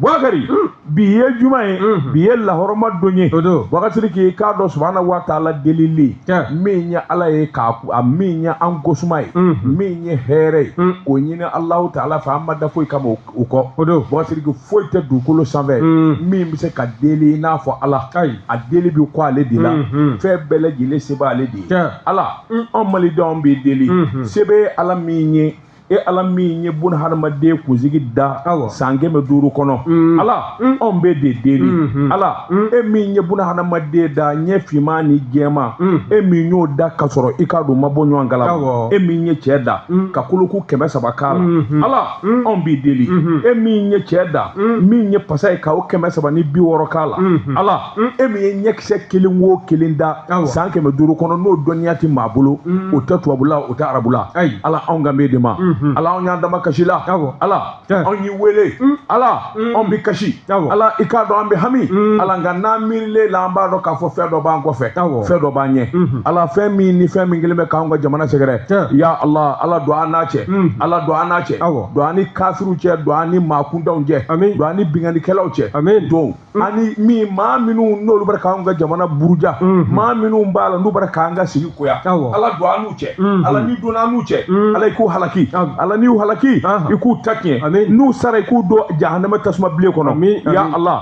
buakari hmm. bi ye juma ye hmm. bi ye lahɔrɔma don ye buakasiriki k'a dɔn subahanahu wa taala delili min ye ala ye k'a a min ye an kosuma ye hmm. min ye hɛrɛ ye k'o ɲini alahu taala fɛ an ma da foyi kama o kɔ o don buakasiriki foyi tɛ dugukolo sanfɛ min bɛ se ka deli i n'a fɔ ala a deli bɛ kɔ ale de la fɛn bɛɛ lajɛlen se b'ale de ye ala an malidenw b'i deli se bɛ ala min ye e ala min ye bun hadamaden kunsigi da san kɛmɛ duuru kɔnɔ mm. ala mm. anw b'e de deli mm-hmm. ala mm. e min ye bun hadamaden da ɲɛ finman ni jɛman e min y'o da ka sɔrɔ i k'a dɔn ma bɔ ɲɔgɔn kala e min ye cɛ da ka koloku kɛmɛ saba k'a la mm-hmm. ala anw b'i deli mm-hmm. e min ye cɛ da min ye pasa ye ka o kɛmɛ saba ni bi wɔɔrɔ k'a la ala e min ye ɲɛkisɛ kelen wo kelen da san kɛmɛ duuru kɔnɔ n'o dɔnniya tɛ maa bolo mm. o tɛ tubabula o tɛ arabula ala anw kan b'e de ma mm-hmm. ala anw y'an damakasi i la ala anw y'i wele mm. ala mm. anw bɛ kasi ala i k'a dɔn an bɛ hami ala nka n'an miirilen la an b'a dɔn k'a fɔ fɛn dɔ b'an kɔfɛ fɛn dɔ b'an ɲɛ mm-hmm. ala fɛn min ni fɛn min kɛlen bɛ k'anw ka jamana sɛgɛrɛ ya ala ala don an n'a cɛ ala don an n'a cɛ don an ni kafiriw cɛ don an ni maa kuntanw cɛ don an ni binkannikɛlaw cɛ don Mm. ani min maa minnu n'olu bɛ k'an ka jamana buruja mm-hmm. maa minnu b'a la n'u bɛ k'an ka sigi koya ala don an n'u cɛ mm-hmm. ala n'i donna an n'u cɛ mm-hmm. ala i k'u halaki ala n'i y'u halaki uh-huh. i k'u ta tiɲɛ n'u sara i k'u don jahanama tasuma bilen kɔnɔ ya ala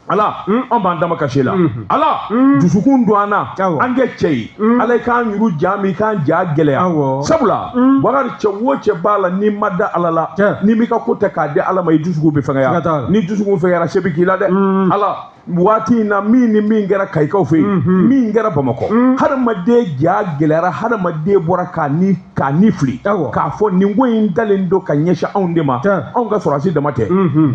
ala mm, an b'an damakasi i la ala dusukun don an na an kɛ cɛ ye Mm. ala i k'an ɲuru ja min i k'an ja gɛlɛya sabula mm. bakari cɛ wo cɛ b'a la n'i ma da ala la n'i m'i ka ko ta k'a di ala ma i dusukun bɛ fɛngɛya n'i dusukun fɛngɛyara se bɛ k'i la dɛ mm. ala waati in na min ni min kɛra kayikaw fɛ yen mm-hmm. min kɛra bamakɔ mm. hadamaden ja gɛlɛyara hadamaden bɔra k'a ni fili k'a fɔ nin ko in dalen don ka ɲɛsin anw de ma anw ka sɔrɔdasi dama tɛ mm-hmm.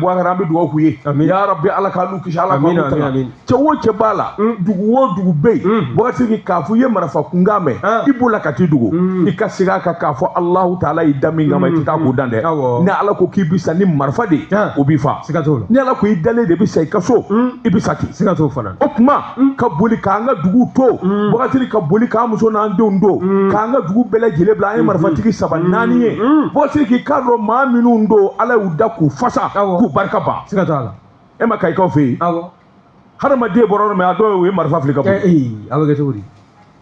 bakari an bɛ dugawu k'u ye ya rabi ala k'an n'u kisi ala k'an n'u tanga cɛ o cɛ b'a la mm. dugu o dugu bɛ yen mm. buakasiriki k'a fɔ i ye marifa kunkan mɛn ah. i bolila ka t'i dogo mm. i ka segin a kan k'a fɔ alahu taala y'i da min kama i tɛ taa k'o dan dɛ ni ala ko k'i bi sa ni marifa de ye ah. o b'i fa ni ala ko i dalen de bɛ sa i ka so i bɛ sa ten o tuma ka boli k'an ka dugu to buakari ka boli k'an muso n'an denw to k'an ka dugu bɛɛ lajɛlen bila an ye marifatigi saba naani ye buakasiriki k'a dɔn maa minnu don ala y'u da k'u fasa k'u barika ban e ma kayikaw fɛ yen hadamaden bɔra yɔrɔ min a dɔw ye marifa fili ka bɔ a bɛ kɛ cogo di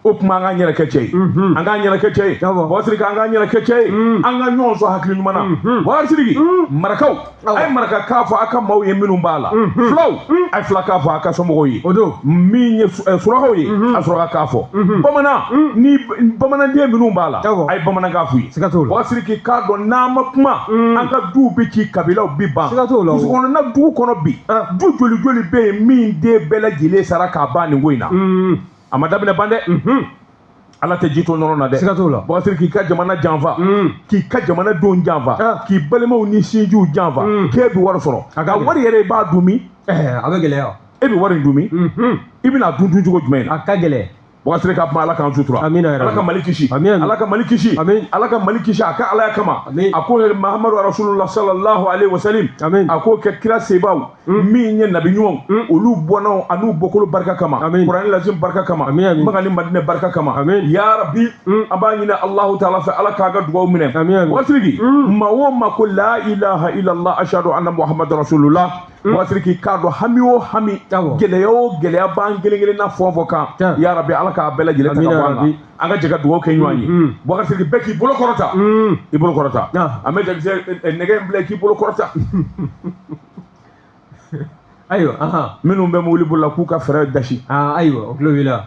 o tuma an k'an yɛrɛ kɛ cɛ ye an k'an yɛrɛ kɛ cɛ ye buakasiriki an k'an yɛrɛ kɛ cɛ ye an ka ɲɔgɔn sɔn hakili ɲuman na buakasiriki marakaw a ye marakakan fɔ a ka maaw ye minnu b'a la fulaw a ye fulakan fɔ a ka somɔgɔw ye o don min ye surakaw ye a surakakan fɔ bamanan ni bamananden minnu b'a la a ye bamanankan f'u ye siga t'o la bubakari siriki i k'a dɔn n'an ma kuma mm. an ka duw bi ci kabilaw bi ban siga t'o la musokɔnɔna dugu kɔnɔ bi ah. du joli joli bɛ yen min den bɛɛ lajɛlen sara k'a ban nin ko in na mm. a ma daminɛ ban dɛ mm-hmm. ala tɛ ji to nɔnɔ na dɛ siga t'o la bubakari siriki k'i ka jamana janfa mm. k'i ka jamana denw janfa ah. k'i balimaw ni sinjiw janfa k'e bi wari sɔrɔ a ka wari yɛrɛ i b'a dun min eh, a bɛ gɛlɛya e bi wari in dun min mm-hmm. i bɛn'a dun dun cogo jumɛn na a ka gɛlɛn bubakari ka kuma ala k'an sutura ala ka mali kisi ala ka mali kisi ala ka mali kisi a ka alaya kama a ko mahamadu rasulula salallahu alaihi wasalam a k'o kɛ kira sebaw hmm. min ye nabi ɲumanw hmm. olu bɔnnaw an'u bɔkolo barika kama kurani al azim barika kama makan ni madinɛ barika kama ya rabi hmm. an b'a ɲini allahu taala fɛ ala k'a ka dugaw minɛ bubakari maa o maa ko la ilaha illallah ashadu anna muhamadu rasulula bubakari siriki i k'a dɔn hami o hami gɛlɛya o gɛlɛya b'an kelen kelen na fɛn o fɛn kan ya rabi ala k'a bɛɛ lajɛlen ta ka bɔ an kan an ka jɛ ka dugawu kɛ ɲɔgɔn ye mm-hmm. bubakari siriki bɛɛ k'i bolo kɔrɔta mm-hmm. i bolo kɔrɔta an bɛ jakisɛ eh, eh, nɛgɛ in bila k'i bolo kɔrɔta ayiwa minnu bɛ mobili boli la k'u ka furɛn dasi ayiwa o tulo b'i la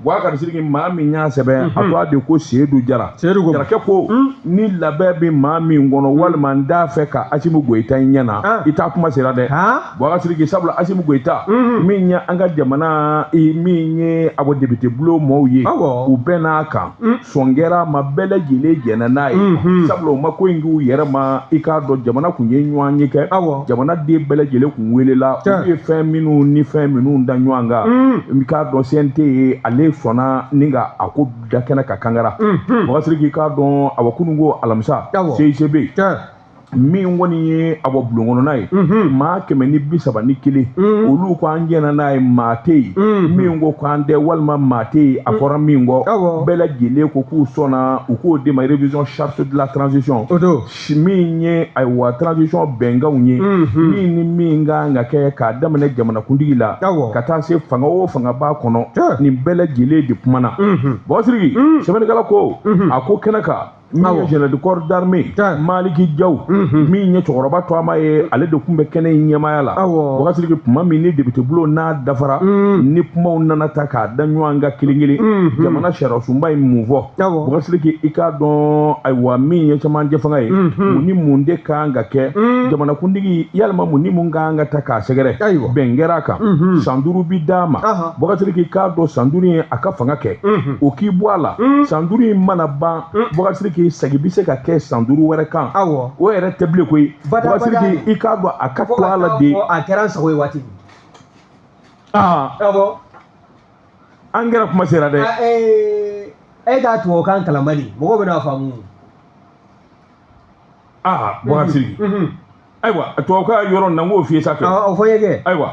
Bubakari siriki maa min y'a sɛbɛn a tɔgɔ de ko seyidu jara jarakɛ ko ni labɛn bɛ maa min kɔnɔ walima n t'a fɛ ka asimi goyita ye ɲɛ na i ta kuma sera dɛ bubakari siriki sabula asimi goyita min ye an ka jamana min ye a bɔ député bulon maaw ye u bɛnn'a kan sɔn kɛra maa bɛɛ lajɛlen jɛnna n'a ye mhm. sabula u ma ko in k'u yɛrɛ ma i k'a dɔn jamana tun ye ɲɔgɔnye kɛ jamana den bɛɛ lajɛlen tun welela u ye fɛn minnu ni fɛn minnu da ɲɔgɔn kan mhm. i k'a dɔn CNT ye ale sɔnna ni ka a ko da kɛnɛ kan kangara mhm. bubakari siriki i k'a dɔn a kunun kɔ alamisa CICB min kɔni ye a bɔ bulon kɔnɔna ye maa kɛmɛ ni bi saba ni kelen olu ko an jɛnna n'a ye maa tɛ yen min ko k'an tɛ walima maa tɛ yen a fɔra min kɔ bɛɛ lajɛlen ko k'u sɔnna u k'o de ma révision charte de la transition min ye ayiwa transition bɛnkanw ye min ni min ka kan ka kɛ k'a daminɛ jamanakuntigi la ka taa se fanga o fanga b'a kɔnɔ nin bɛɛ lajɛlen de kumana bubakari siriki sɛbɛnnikɛla ko a ko kɛnɛ kan min ye général de corps d'armée maliki jaw mhm. min ye cɛkɔrɔba tɔgɔma ye ale de tun bɛ kɛnɛ in ɲɛmaaya la bubakari siriki tuma min ni député bulon n'a dafara mhm. ni kumaw nana ta k'a da ɲɔgɔn kan kelen kelen mhm. jamana sariyasunba ye mun fɔ bubakari siriki i k'a dɔn ayiwa min ye camancɛ fanga ye mun ni mun de ka kan ka kɛ jamanakuntigi walima mun ni mun ka kan ka ta k'a sɛgɛrɛ bɛn kɛra a kan san duuru bi d'a ma Bɔkasiriki i k'a dɔn san duuru ye a ka fanga kɛ o k'i bɔ a la san duuru in mana ban Bɔkasiriki sagi bɛ se ka kɛ san duuru wɛrɛ kan o yɛrɛ tɛ bilen koyi Bɔkasiriki i k'a dɔn a ka to a la de a kɛra sago ye waati min aa an kɛra kuma sera dɛ e k'a tubabukan kalan Mali mɔgɔw bɛna faamu aa Bɔkasiri ayiwa tubabukan yɔrɔ nin na n k'o f'i ye sa kɛ o fɔ n ye kɛ ayiwa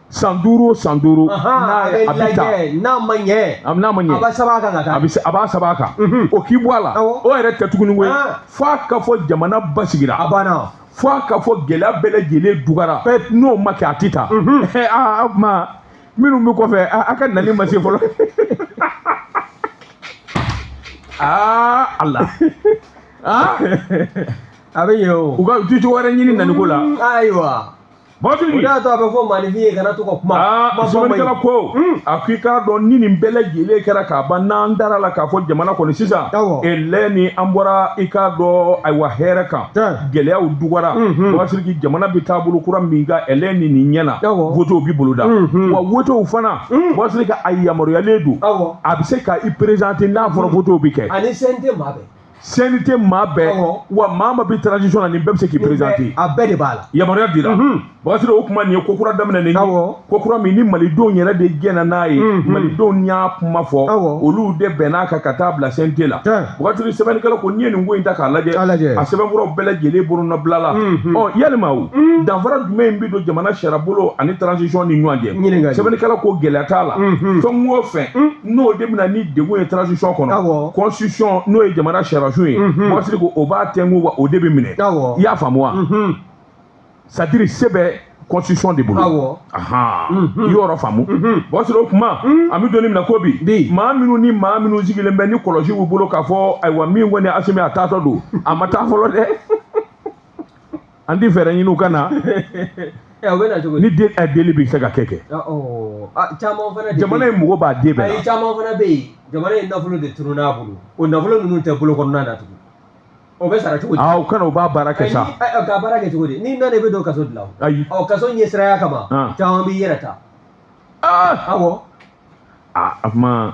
san duuru o san duuru n'a ye a bɛ taa n'a ma ɲɛ n'a ma ɲɛ a b'a saba kan ka taa a bɛ a b'a saba kan o k'i bɔ a la o yɛrɛ tɛ tuguni koyi f'a ka fɔ jamana basigira a banna fo a ka fɔ gɛlɛya bɛɛ lajɛlen dugara n'o ma kɛ a tɛ taa aa o tuma minnu bɛ kɔfɛ a ka nali ma se fɔlɔ aa ala aa a bɛ yen o u ka du cogo wɛrɛ ɲini naniko la ayiwa Bɔkasiriki o de y'a to a bɛ fɔ maanifin ye kana to ka kuma. Aa kuma fɔ man ɲi. sɛbɛnnikɛla ko Hmm. a ko i k'a dɔn ni nin bɛɛ lajɛlen kɛra k'a ban n'an dara la k'a fɔ jamana kɔni sisan Awɔ. elɛ ni an bɔra i k'a dɔn ayiwa hɛrɛ kan Tiɲɛ. gɛlɛyaw dugara Mhm. Bɔkasiriki jamana bɛ taabolo kura min kan elɛ ni nin ɲɛna Awɔ. wotew bɛ boloda Mhm. wa wotew fana Hmm. Bɔkasiriki a yamaruyalen don Awɔ. a bɛ se ka i présenter n'a fɔra wotew bɛ kɛ ani CNT maa bɛɛ. CNT maa bɛɛ wa maa maa bi transition na nin bɛɛ bɛ se k'i présenter a bɛɛ de b'a la yamaruya dira Bɔkasiriki o kuma nin ye ko kura daminɛnen ye ko kura min ni malidenw yɛrɛ de jɛnna n'a ye malidenw y'a kuma fɔ olu de bɛnn'a kan ka taa bila CNT la Bɔkasiriki sɛbɛnnikɛla ko n'i ye nin ko in ta k'a lajɛ a sɛbɛnfuraw bɛɛ lajɛlen bolonɔbilala ɔ yalima o danfara jumɛn bɛ don jamana sariyabolo ani transition ni ɲɔgɔn cɛ sɛbɛnnikɛla ko gɛlɛya t'a la fɛn o fɛn n'o de bɛ na ni degun ye transition kɔnɔ constitution n'o ye jamana sariyasun ye Bɔkasiriki o b'a tɛnku wa o de bɛ minɛ i y'a faamu wa c'est-à-dire se bɛ constitution de bolo i y'o faamu Bɔkasiriki o kuma an bɛ don min na ko bi maa minnu ni maa minnu sigilen bɛ ni kɔlɔsi b'u bolo k'a fɔ ayiwa min kɔni Asimi a taatɔ don a ma taa fɔlɔ dɛ an tɛ fɛɛrɛ ɲini u ka na Eh, o bɛ na cogo di? ni den eh, deli bɛ se ka kɛ kɛ Ah, oh. Ah, caman fana de jamana bɛ in mɔgɔba den bɛɛ ayi la caman fana bɛ yen jamana in nafolo de tununn'a bolo o nafolo ninnu tɛ bolo kɔnɔna na tugun o bɛ sara cogo di? aa u ka na u b'a baara kɛ Ayi, sa ni- ayi, ka baara kɛ cogo di n'i nana i bɛ don kaso de la o. ayi ɔ kaso ɲɛsiranya kama Ah. caman b'i yɛrɛ ta aa awɔ aa a kuma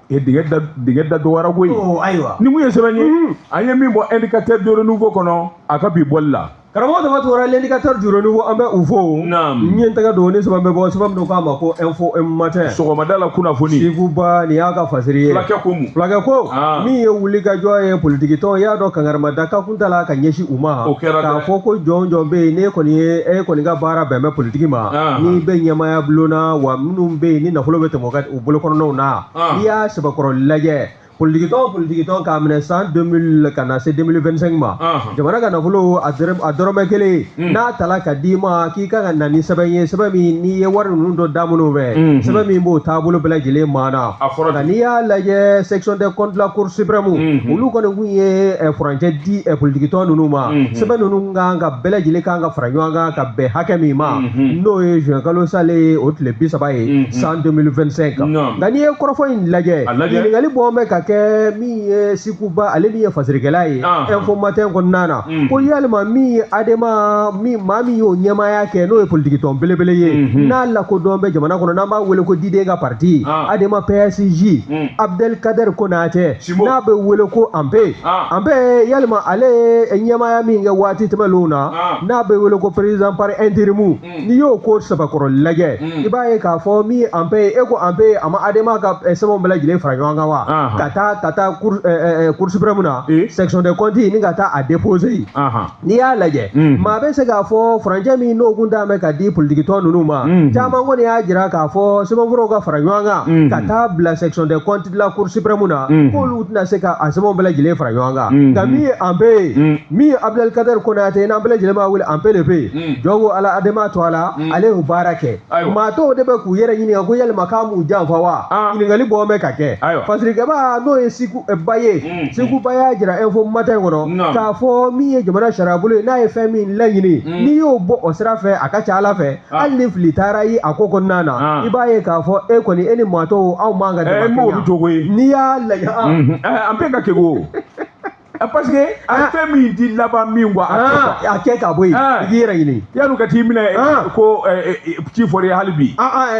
E dingɛ da dingɛ da dɔgɔyara koyi. Oo ayiwa. Nin kun ye sɛbɛn ye. Unhun. An ye min bɔ indicateur de renouveau kɔnɔ, a ka bi bɔli la. Karamɔgɔ dama tora l'indicateur du renouveau an bɛ u fo o. Naamu. N ye n tɛgɛ don o ni sɛbɛn bɛ bɔ, sɛbɛn min k'a ma ko info matin. Sɔgɔmada la kunnafoni. Siku Ba nin y'a ka fasiri ye. Fulakɛ ko mun? Fulakɛ ko, Aa. min ye wulikajɔ ye politikitɔn, i y'a dɔn kankarimada ka kun tala ka ɲɛsin u ma. O kɛra dɛ. K'a fɔ ko jɔn o jɔn bɛ yen, n'e kɔni ye, e kɔni ka baara bɛn bɛ politiki ma, Anhan. n'i bɛ ɲɛmaaya bulon na, wa minnu bɛ yen ni nafolo bɛ tɛmɛ u ka bolokɔnɔnaw na n'i y'a sɛbɛkɔrɔ lajɛ politikitɔn politikitɔn k'a minɛ san 2000 ka na se 2025 ma jamana ka nafolo a dɔrɔmɛ kelen hmm. n'a tala ka d'i ma k'i ka ka na ni sɛbɛn ye sɛbɛn min n'i ye wari ninnu don da minnu fɛ hmm, hmm. sɛbɛn min b'o taabolo bɛɛ lajɛlen maana nka n'i y'a lajɛ section des comptes la cour suprême olu kɔni kun ye eh, furancɛ di eh, politikitɔn ninnu ma sɛbɛn ninnu kan ka bɛɛ lajɛlen kan ka fara ɲɔgɔn kan ka bɛn hakɛ min ma n'o ye juin kalo sale ye o tile bi saba ye san 2025 kan nka n'i ye kɔrɔfɔ in lajɛ ɲininkali bɔ bɛ ka kɛ min ye siku ba ale min ye fasirikɛla ye info matin kɔnɔna na ko yalima min ye adema min maa min y'o ɲɛmaaya kɛ n'o ye politikitɔn belebele ye n'a lakodɔn bɛ jamana kɔnɔ n'an b'a wele ko diden ka parti adema psj abdel kader konatɛ n'a bɛ wele ko anpe anpe yalima ale ye ɲɛmaaya min kɛ waati tɛmɛnlenw na n'a bɛ wele ko président par intérim n'i y'o ko sɛbɛkɔrɔ lajɛ i b'a ye k'a fɔ min ye anpe ye e ko anpe a ma adema ka eh, sɛbɛnw bɛɛ lajɛlen fara ɲɔgɔn kan wa Ahan. ka taa ka taa cour eh, eh, eh, cour suprême na Eh. section des comptes ni ka taa a déposer yen Ahan. n'i y'a lajɛ Mm. maa bɛ se k'a fɔ furancɛ min n'o kun ta bɛ ka di politikitɔn ninnu ma Mm. caman kɔni y'a jira k'a fɔ sɛbɛnfuraw ka fara ɲɔgɔn kan Mm. ka taa bila section des comptes la cour suprême na mm. k'olu tɛna se ka a sɛbɛnw bɛɛ lajɛlen fara ɲɔgɔn kan mm. nka min ye anpe ye mm. min ye abdel kader konate n'an bɛɛ lajɛlen b'a wele anpe le pe jɔn ko ala adema tɔgɔ la ale y'o baara kɛ maa tɔw de bɛ k'u yɛrɛ ɲininka ko yalima k'a m'u janfa wa ah. ɲininkali bɔ bɛ ka kɛ fasirikɛbaa n'o ye siku eh, ba ye siku ba y'a jira info matin kɔnɔ k'a fɔ min ye jamana sariyabolo ye n'a ye fɛn min laɲini n'i y'o bɔ o sira fɛ a ka ca ala fɛ Ah. hali ni fili taara ye a ko kɔnɔna na ah. i b'a ye k'a fɔ e kɔni e ni maa tɔw aw man ka dama eh, kɛɲɛ jogo ye n'i y'a lajɛ ah. mhm. eh, Anpe ka kegun eh, parce que a ye fɛn min di laban min kuwa a kɛ ka bɔ yen i k'i yɛrɛ ɲini yan'u ka t'i minɛ ko ci fɔra hali bi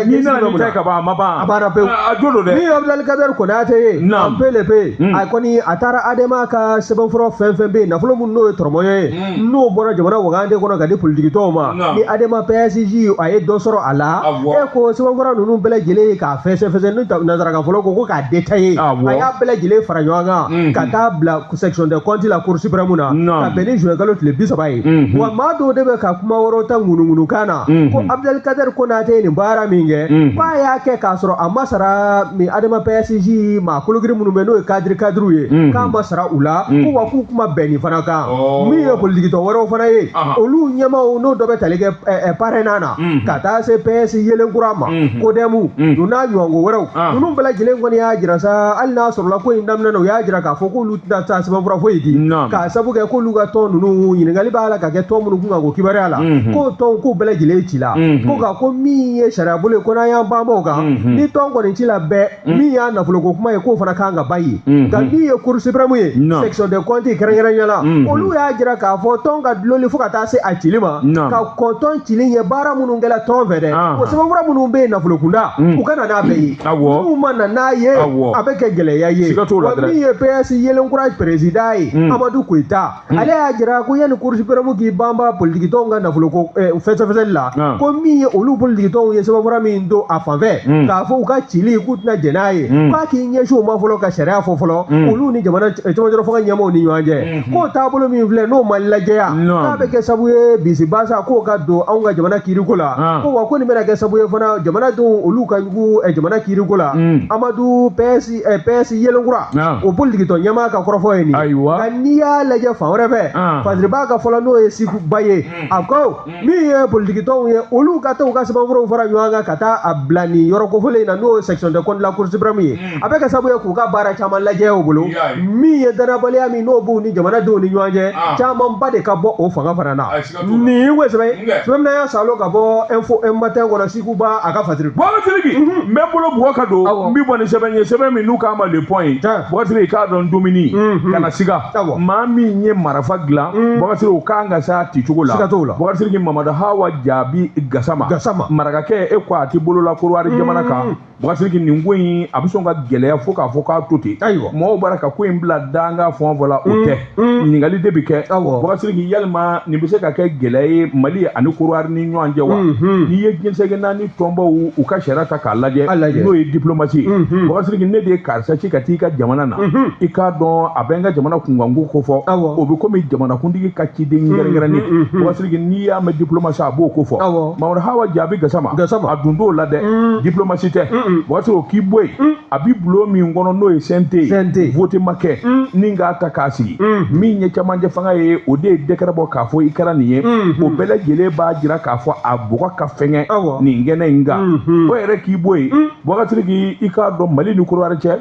n'i nana nin ta ka ban a ma ban a banna pewu a jo don dɛ min ye Abdel Kader Konatɛ ye Anpe le pe a kɔni a taara Adema ka sɛbɛnfura fɛn fɛn bɛ yen nafolo minnu n'o ye tɔrɔmɔɲɔ ye n'o bɔra jamana wagande kɔnɔ ka di politikitɔnw ma ni adema pasj a ye dɔ sɔrɔ a la e ko sɛbɛnfura ninnu bɛɛ lajɛlen k'a fɛsɛfɛsɛ ni nanzara k'a fɔ ko k'a détaillé a y'a bɛɛ lajɛlen fara ɲɔgɔn kan ka taa bila section des comptes la cour suprême na ka bɛn ni juin kalo tile bi saba ye wa maa dɔw de bɛ ka kuma wɛrɛw ta ŋunuŋunukan na ko abdel kader konate ye nin baara min kɛ k'a y'a kɛ k'a sɔrɔ a ma sara min adema pasj maa kologiri minnu bɛ n'o ye kadiri kadiriw ye k'a ma sara u la ko wa k'u k'u ma bɛn nin fana kan min ye politikitɔn wɛrɛw fana ye olu ɲɛmaaw n'o dɔ bɛ tali kɛ parena na ka taa se ps yelen kura ma kodɛmu u n'a ɲɔgɔnko wɛrɛw ninnu bɛɛ lajɛlen kɔni y'a jira sa hali n'a sɔrɔla ko in daminɛ na u y'a jira k'a fɔ k'olu tɛna taa sɛbɛnfura foyi di k'a sabu kɛ k'olu ka tɔn ninnu ɲininkali b'a la ka kɛ tɔn minnu kun kan k'o kibaruya la k'o tɔnw k'u bɛɛ lajɛlen ci la ko nka ko min ye sariyabolo ye ko n'an y'an banba o kan ni tɔn kɔni ci la bɛɛ Mm. min y'a nafoloko kuma ye k'o fana kan ka ban yen mm-hmm. nka min ye cour suprême ye section des comptes kɛrɛnkɛrɛnya la mm-hmm. olu y'a jira k'a fɔ tɔn ka dulonli fo ka taa se a cili ma ka kɔn tɔn cili ɲɛ baara minnu kɛla tɔn fɛ dɛ o sɛbɛnfura minnu bɛ yen nafolokunda mm. u ka na n'a bɛɛ ye n'u ma na n'a ye a bɛ kɛ gɛlɛya ye wa min ye ps yelen kura perezidan ye mm. amadu koyita Hmm. ale y'a jira ko yanni cour suprême k'i banba politikitɔnw ka nafolo ko eh, fɛsɛfɛsɛli la ah. ko min ye olu politikitɔnw ye sɛbɛnfura min don a fan fɛ hmm. k'a fɔ u ka cili k'u tɛna jɛn n'a ye hmm. k'a k'i ɲɛsin o ma fɔlɔ ka sariya fɔ fɔlɔ olu ni jamana eh, camancɛla fanga ɲɛmɔgɔw ni ɲɔgɔn cɛ k'o taabolo min filɛ n'o ma lajɛya k'a bɛ kɛ sabu ye bisibasa k'o ka don anw ka jamana kiiriko la ah. ko wa ko nin bɛna kɛ sabu ye fana jamanadenw olu ka jugu eh, jamana kiiriko la amadu pɛsi eh, PS yelenkura ah. o politikitɔn ɲɛmaa ka kɔrɔfɔ ye nin ye ayiwa nka n'i y'a lajɛ fan wɛrɛ fɛ ah. fasiriba ka fɔ la n'o ye siku ba ye hmm. a ko hmm. min ye politikitɔnw ye olu ka taa u ka sɛbɛnfuraw fara ɲɔgɔn kan ka taa a bila nin yɔrɔ kofɔlen in na n'o ye section des comptes de la cour suprême ye hmm. a bɛ kɛ sababu ye k'u ka baara caman lajɛya u bolo min ye dannabaliya min n'o b'u ni jamanadenw ni ɲɔgɔn cɛ ah. camanba de ka bɔ o fanga fana na ni ko sɛbɛn sɛbɛn y'a salo ka bɔ info matin kɔnɔ siku ba a ka fasiri bukasiriki n bɛ bolo bugɔ ka don n bɛ bɔ ni sɛbɛn ye sɛbɛn min n'u k'a ma le point ye bukasiriki k'a dɔn dumuni kana siga maa min ye marafa dilan bukasiriki o k'an ka s'a ti cogo la bukasiriki mamadu hawa jaabi gasama marakakɛ e ko a t'i bolo la korowari jamana kan Bukasiriki nin ko in a bɛ sɔn ka gɛlɛya fo k'a fɔ k'a to ten ayiwa mɔgɔw b'a ka ko in bila danga fɔ fɔ la o mm, tɛ mm. ɲininkali de bɛ kɛ Bukasiriki yalima nin bɛ se ka kɛ gɛlɛya ye Mali ani Korowari ni ɲɔgɔn cɛ wa mm-hmm. n'i ye diɲɛ seleke naani tɔnbaw u ka sariya ta k'a lajɛ n'o ye diplomasi mm-hmm. Bukasiriki ne de ye karisa ci ka t'i ka jamana na mm-hmm. i k'a dɔn a bɛ n ka jamana kunkanko ko fɔ o bɛ komi jamanakuntigi ka ciden kɛrɛnkɛrɛnnen n'i y'a mɛn diplomasi a b'o ko fɔ mamadu hawa jaabi gasama a dun t'o la dɛ mm. diplomasi tɛ bakasiriki o k'i bɔ yen mm. a bi bulon min kɔnɔ n'o ye cnt ye vote ma kɛ mm. ni k'a ta k'a sigi min ye camancɛ fanga ye o de ye dɛkɛrɛ bɔ k'a fɔ i kɛra nin ye mm-hmm. o bɛɛ lajɛlen b'a jira k'a fɔ a bɔgɔ ka fɛngɛ nin kɛnɛ in kan o yɛrɛ k'i bɔ yen bakasiriki i k'a dɔn mali ni korowari cɛ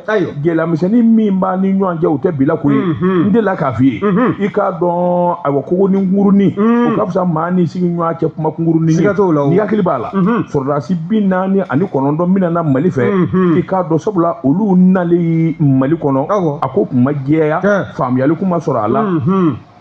gɛlɛyamisɛnnin min b'a ni ɲɔgɔn cɛ o tɛ bi la ko ye n delila k'a f'i ye i k'a dɔn ayiwa kogonin kunkurunin o ka fisa maa ni sigi ɲɔgɔn cɛ kuma kunkurunin ye n'i hakili b'a la sɔrɔdasi bi naani ani kɔnɔntɔn min nana mali fɛ i k'a dɔn sabula olu nalen mali kɔnɔ a ko kun ma jɛya faamuyali kun ma sɔrɔ a la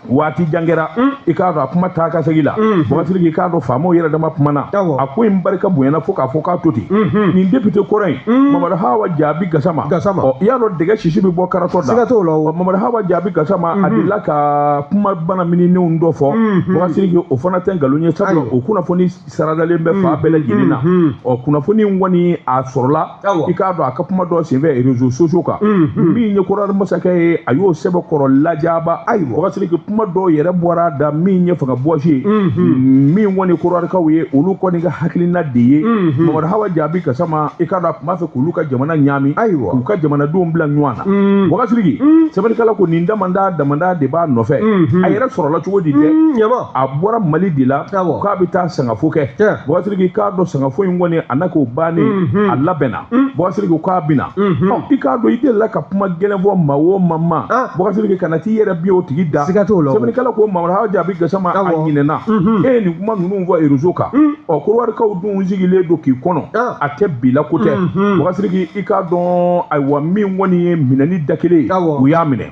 waati jan kɛra mm. i k'a dɔn a kuma taa ka segin la mm. bakasiriki i k'a dɔn faamaw yɛrɛ dama kumana a ko in barika bonyana fo k'a fɔ k'a to ten mm-hmm. nin depite kɔrɔ in mm. mamadu hawa jaabi gasama ɔ i y'a dɔn dɛgɛ sisi bɛ bɔ karatɔ da siga t'o la o mamadu hawa jaabi gasama a mm-hmm. delila ka kuma bana mininenw dɔ fɔ bakasiriki mm-hmm. o fana tɛ nkalon ye sabula o kunnafoni saradalen bɛ fan bɛɛ lajɛlen na ɔ kunnafoni in kɔni a sɔrɔla i k'a dɔn a ka kuma dɔ senfɛ rezo sosiyo kan min ye korowari masakɛ ye a y'o sɛbɛkɔrɔ lajaba ayiwa wagasiriki kuma dɔw yɛrɛ bɔr'a da min ye fanga bɔsi ye min kɔni korowarikaw ye olu kɔni ka hakilina de ye mamadu hawa jaabi gasama i k'a dɔn a tun b'a fɛ k'olu ka jamana ɲaami ayiwa k'u ka jamanadenw bila ɲɔgɔn na wagasiriki sɛbɛnnikɛla ko nin damada damada de b'a nɔfɛ a yɛrɛ sɔrɔla cogo di dɛ a bɔra mali de la k'a bɛ taa sangafo kɛ bɔsiriki i k'a dɔn sangafo in kɔni a na k'o bannen mhm. a labɛnna mm. bɔsiriki k'a bɛ na mhm. i k'a dɔn i delila ka kuma gɛlɛn fɔ maa o maa ma ah. bɔsiriki kana t'i yɛrɛ bi o tigi da sɛbɛnnikɛla ko mamadu hawa jaabi gasama a ɲinɛna mhm. e ye nin kuma ninnu fɔ rezo kan mm. ɔ korowarikaw dun sigilen don k'i kɔnɔ ah. a tɛ bi la ko tɛ bɔsiriki i k'a dɔn ayiwa min kɔni ye minɛni da kelen ye u y'a minɛ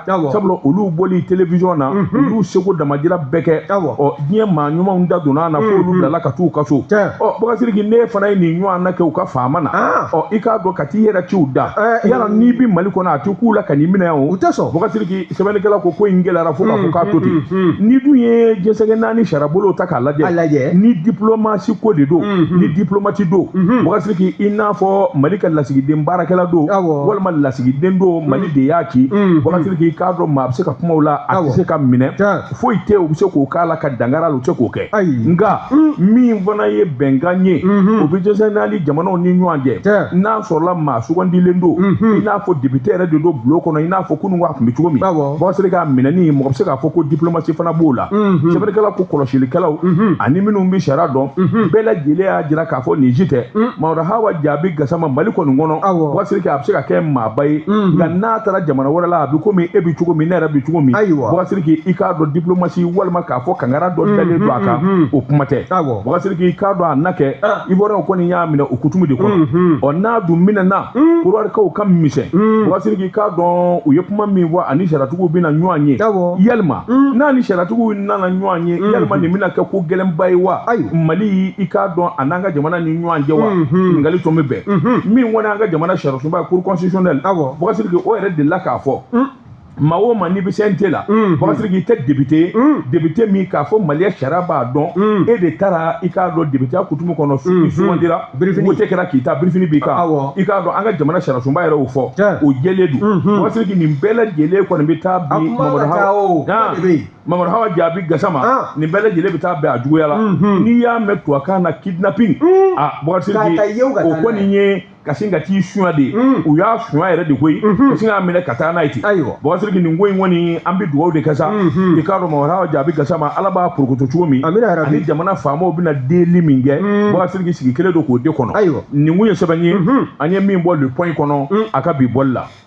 sabula olu bɔli télévision na olu seko damajira bɛɛ kɛ ɔ diɲɛ maa ɲumanw da donna na fo olu bilala ka t'u ka so ɔ bakasiriki ne fana ye nin ɲɔgɔnna kɛ u ka faama na ɔ i k'a dɔn ka t'i yɛrɛ ci u da yala n'i bɛ mali kɔnɔ a tɛ k'u la ka n'i minɛ o tɛ sɔn bakasiriki sɛbɛnnikɛla ko ko in gɛlɛyara fo k'a fɔ k'a to ten n'i dun ye diɲɛ seleke naani sariyabolo ta k'a lajɛ ni diplomasi ko de don ni diplomati don bakasiriki i n'a fɔ mali ka lasigiden baarakɛla don walima lasigiden don mali de y'a ci bakasiriki i k'a dɔn maa a bɛ se ka kumaw la a tɛ se ka minɛ foyi tɛ u bɛ se k'o k'a la ka dangara la u tɛ k'o kɛ nka min fana ye bɛnkan ye o bɛ diɲɛ seleke naani jamanaw ni ɲɔgɔn cɛ n'a sɔrɔla maa sugandilen don i n'a fɔ depite yɛrɛ de don bulon kɔnɔ i n'a fɔ kunun a tun bɛ cogo min bɔsiriki a minɛni mɔgɔ bɛ se k'a fɔ ko diplomasi fana b'o la sɛbɛnnikɛla ko kɔlɔsilikɛlaw ani minnu bɛ sariya dɔn bɛɛ lajɛlen y'a jira k'a fɔ nin si tɛ mamadu hawa jaabi gasama mali kɔni kɔnɔ bɔsiriki a bɛ se ka kɛ maa ba ye nka n'a taara jamana wɛrɛ la a bɛ komi e bɛ cogo min ne yɛrɛ bɛ cogo min bɔgɔsiriki i k'a dɔn diplomasi walima k'a fɔ kangara dɔ dalen don a kan o kuma tɛ bɔgɔsiriki i k'a dɔn a na kɛ ivoire kɔni y'a minɛ o kutumu de kɔnɔ ɔ n'a dun minɛna kɔdiwarikaw ka misɛn bɔgɔsiriki i k'a dɔn u ye kuma min fɔ ani sariyatigiw bɛna ɲɔgɔn ye yalima n'a ni sariyatigiw nana ɲɔgɔn ye yalima nin bɛna kɛ ko gɛlɛnba ye wa mali i k'a dɔn a n'an ka jamana ni ɲɔgɔn cɛ wa ɲininkali tun bɛ bɛn min kɔni an ka jamana sariya sunba ye cour constitutionnelle awɔ bɔgɔsiriki o yɛrɛ delila k'a fɔ hmm. maa o maa n'i bɛ CNT la hmm. bɔgɔsiriki i tɛ député ye hmm. député min k'a fɔ maliya sariya b'a dɔn e de taara i k'a dɔn député ya kutumu kɔnɔ i sugandira wote kɛra k'i ta birifini b'i kan i k'a dɔn an ka jamana sariyasunba yɛrɛ y'o fɔ o jɛlen don bɔgɔsiriki nin bɛɛ lajɛlen kɔni bɛ taa bi mamadu hawa mamadu hawa jaabi gasama ah. nin bɛɛ lajɛlen bɛ taa bɛn a juguya la n'i y'a mɛn tubabukan na kidnapping a ah, bɔgɔsiriki o kɔni ye ka sin ka t'i suɲa de mm. u y'a suɲa yɛrɛ de koyi mm-hmm. ka sin k'a minɛ ka taa n'a ye ten bɔgɔsiriki nin ko in kɔni an bɛ dugawu de kɛ sa mm-hmm. i k'a dɔn mamadu hawa jaabi gasama ala b'a porokoto cogo min ani jamana faamaw bɛna delili min kɛ mm. bɔgɔsiriki sigi kelen don k'o de kɔnɔ nin kun ye sɛbɛn ye mm-hmm. an ye min bɔ le point kɔnɔ mm. a ka bi bɔli la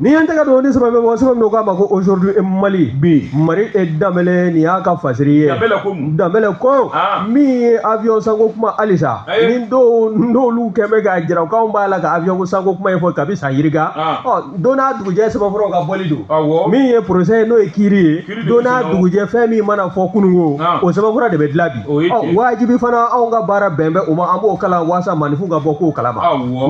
N'i y'an tɛgɛ don ni sɛbɛn bɛ bɔ sɛbɛn min k'a ma ko aujourd'hui e Mali bi Mari e danbɛlɛ nin y'a ka fasiri ye danbɛlɛ ko mun danbɛlɛ ko ah. min ye avion sanko kuma halisa eh. ni dɔw n'olu kɛ bɛ k'a jira k'anw b'a la ka avion sanko kuma in fɔ kabi san yirika ah. ɔ don n'a dugujɛ sɛbɛnfuraw ka bɔli don min ye procès ye n'o ye kiiri ye don n'a dugujɛ fɛn min mana fɔ kununko o sɛbɛnfura de bɛ dilan bi ɔ wajibi fana anw ka baara bɛn bɛ o ma an b'o kalan waasa maninfin ka bɔ ko kalama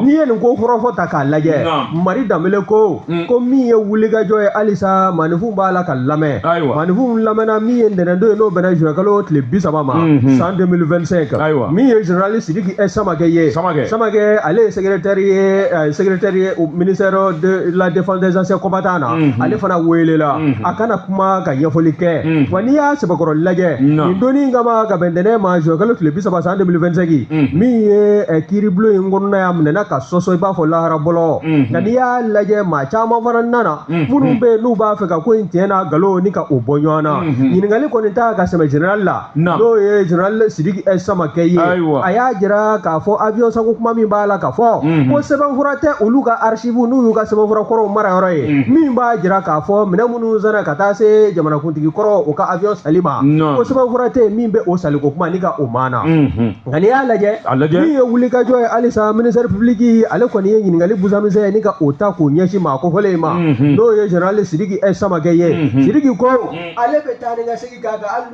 n'i ye nin ko kɔrɔfɔ ta k'a lajɛ mari danbele ko mm. ko min ye wulikajɔ ye halisa maninfin b'a la ka lamɛn maninfin lamɛnna min ye ntɛnɛndon ye n'o bɛnna zuwɛkalo tile bi saba ma mm-hmm. san 2025 min ye général sidiki ɛ samakɛ ye samakɛ ale ye secrétaire ye eh, secrétaire ye ministère de la défense des anciens combattants ale fana welela a ka na kuma ka ɲɛfɔli kɛ wa n'i y'a sɛbɛkɔrɔ lajɛ nin don in kama ka bɛn ntɛnɛn ma zuwɛ kalo tile bi saba san 2025 min ye kiiribulon in kɔnɔnaya minɛna ka sɔsɔ i b'a fɔ lahara bɔlɔ nka n'i y'a lajɛ maa caman fana nana minnu bɛ yen n'u b'a fɛ ka ko in tiɲɛ n'a nkalon ni ka o bɔ ɲɔgɔn na ɲininkali kɔni ta ka sɛmɛ jenerali la n'o ye jenerali sidiki eh, samakɛ ye a y'a jira k'a fɔ avion sanko kuma min b'a la ka fɔ mhm. ko sɛbɛnfura tɛ olu ka archive n'o y'u ka sɛbɛnfura kɔrɔw mara yɔrɔ ye mhm. min b'a jira k'a fɔ minɛn minnu sanna ka taa se jamanakuntigi kɔrɔ o ka avion sanni ma ko sɛbɛnfura tɛ min bɛ o sanniko kuma ni ka o maana mhm. nka n'i y'a lajɛ min ye wulikajɔ ye halisa ministère public ale kɔni ye ɲininkali busamisɛn ye ni ka o ta k'o ɲɛsin maa kofɔlen in ma n'o ye jenerali sidiki eh, samakɛ ye sidiki ko ale bɛ taa ni ka segin k'a kan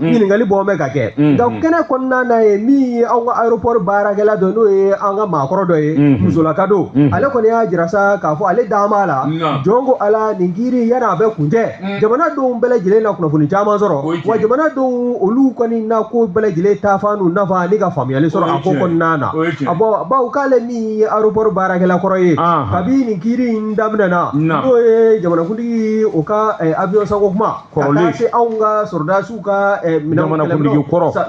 Mm. ɲininkali bɔ bɛ ka kɛ mm-hmm. nka kɛnɛ kɔnɔna na ye min ye anw ka aéroport baarakɛla dɔ n'o ye an ka maakɔrɔ dɔ ye mm-hmm. musolaka don mm-hmm. ale kɔni y'a jira sa k'a fɔ ale dan b'a la jɔn ko ala nin kiri yani a bɛ kuncɛ mm. jamanadenw bɛɛ lajɛlen na kunnafoni caman sɔrɔ wa jamanadenw olu kɔni na ko bɛɛ lajɛlen taafan n'u nafan ani ka faamuyali sɔrɔ a ko kɔnɔna na a bɔ bawo k'ale min ye aéroport baarakɛla kɔrɔ ye kabi nin kiri in daminɛna n'o ye jamanakuntigi o ka eh, avion sanko kuma kɔrɔlen se anw ka sɔrɔdasiw ka eh,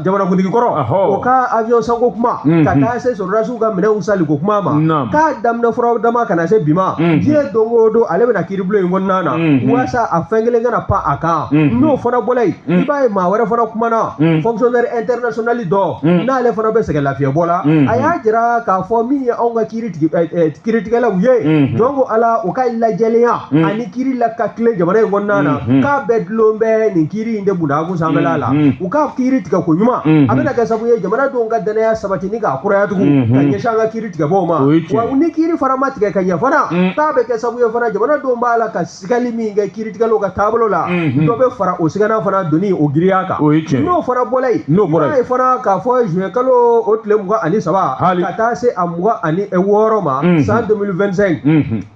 jamanakuntigi kɔrɔ o ka avion sanko kuma mhm. ka taa se sɔrɔdasiw ka minɛnw sanniko kuma ma k'a daminɛ furaw dama ka na se bi ma mhm. diɲɛ don o don ale bɛ na kiiribulon in kɔnɔna na mhm. walasa a fɛn kelen kana pan a kan n'o fana bɔla yen i b'a ye maa wɛrɛ fana kumana fonctionnaire international dɔ n'ale fana bɛ sɛgɛn lafiyɛbɔ la a y'a jira k'a fɔ min ye anw ka kiiri eh, eh, kiritigɛlaw ye mhm. jɔn ko ala u ka lajɛlenya mhm. ani kiri la ka tilen jamana in kɔnɔna na mhm. k'a bɛɛ dulon bɛ nin kiri in de bunda kun sanfɛla la u ka kiri tigɛ koɲuman a bɛna kɛ sabu ye jamanadenw ka danaya sabati ni k'a kuraya tugun ka ɲɛsin an ka kiri tigɛbaaw ma wa ni kiri fana ma tigɛ ka ɲɛ fana k'a bɛ kɛ sabu ye fana jamanadenw b'a la ka sigali min kɛ kiiritigɛlaw ka taabolo la dɔ bɛ fara o sigana fana doni o girinya kan n'o fana bɔla yen i b'a ye fana k'a fɔ juin kalo o tile mugan ani saba ka taa se a mugan ani wɔɔrɔ ma san 2025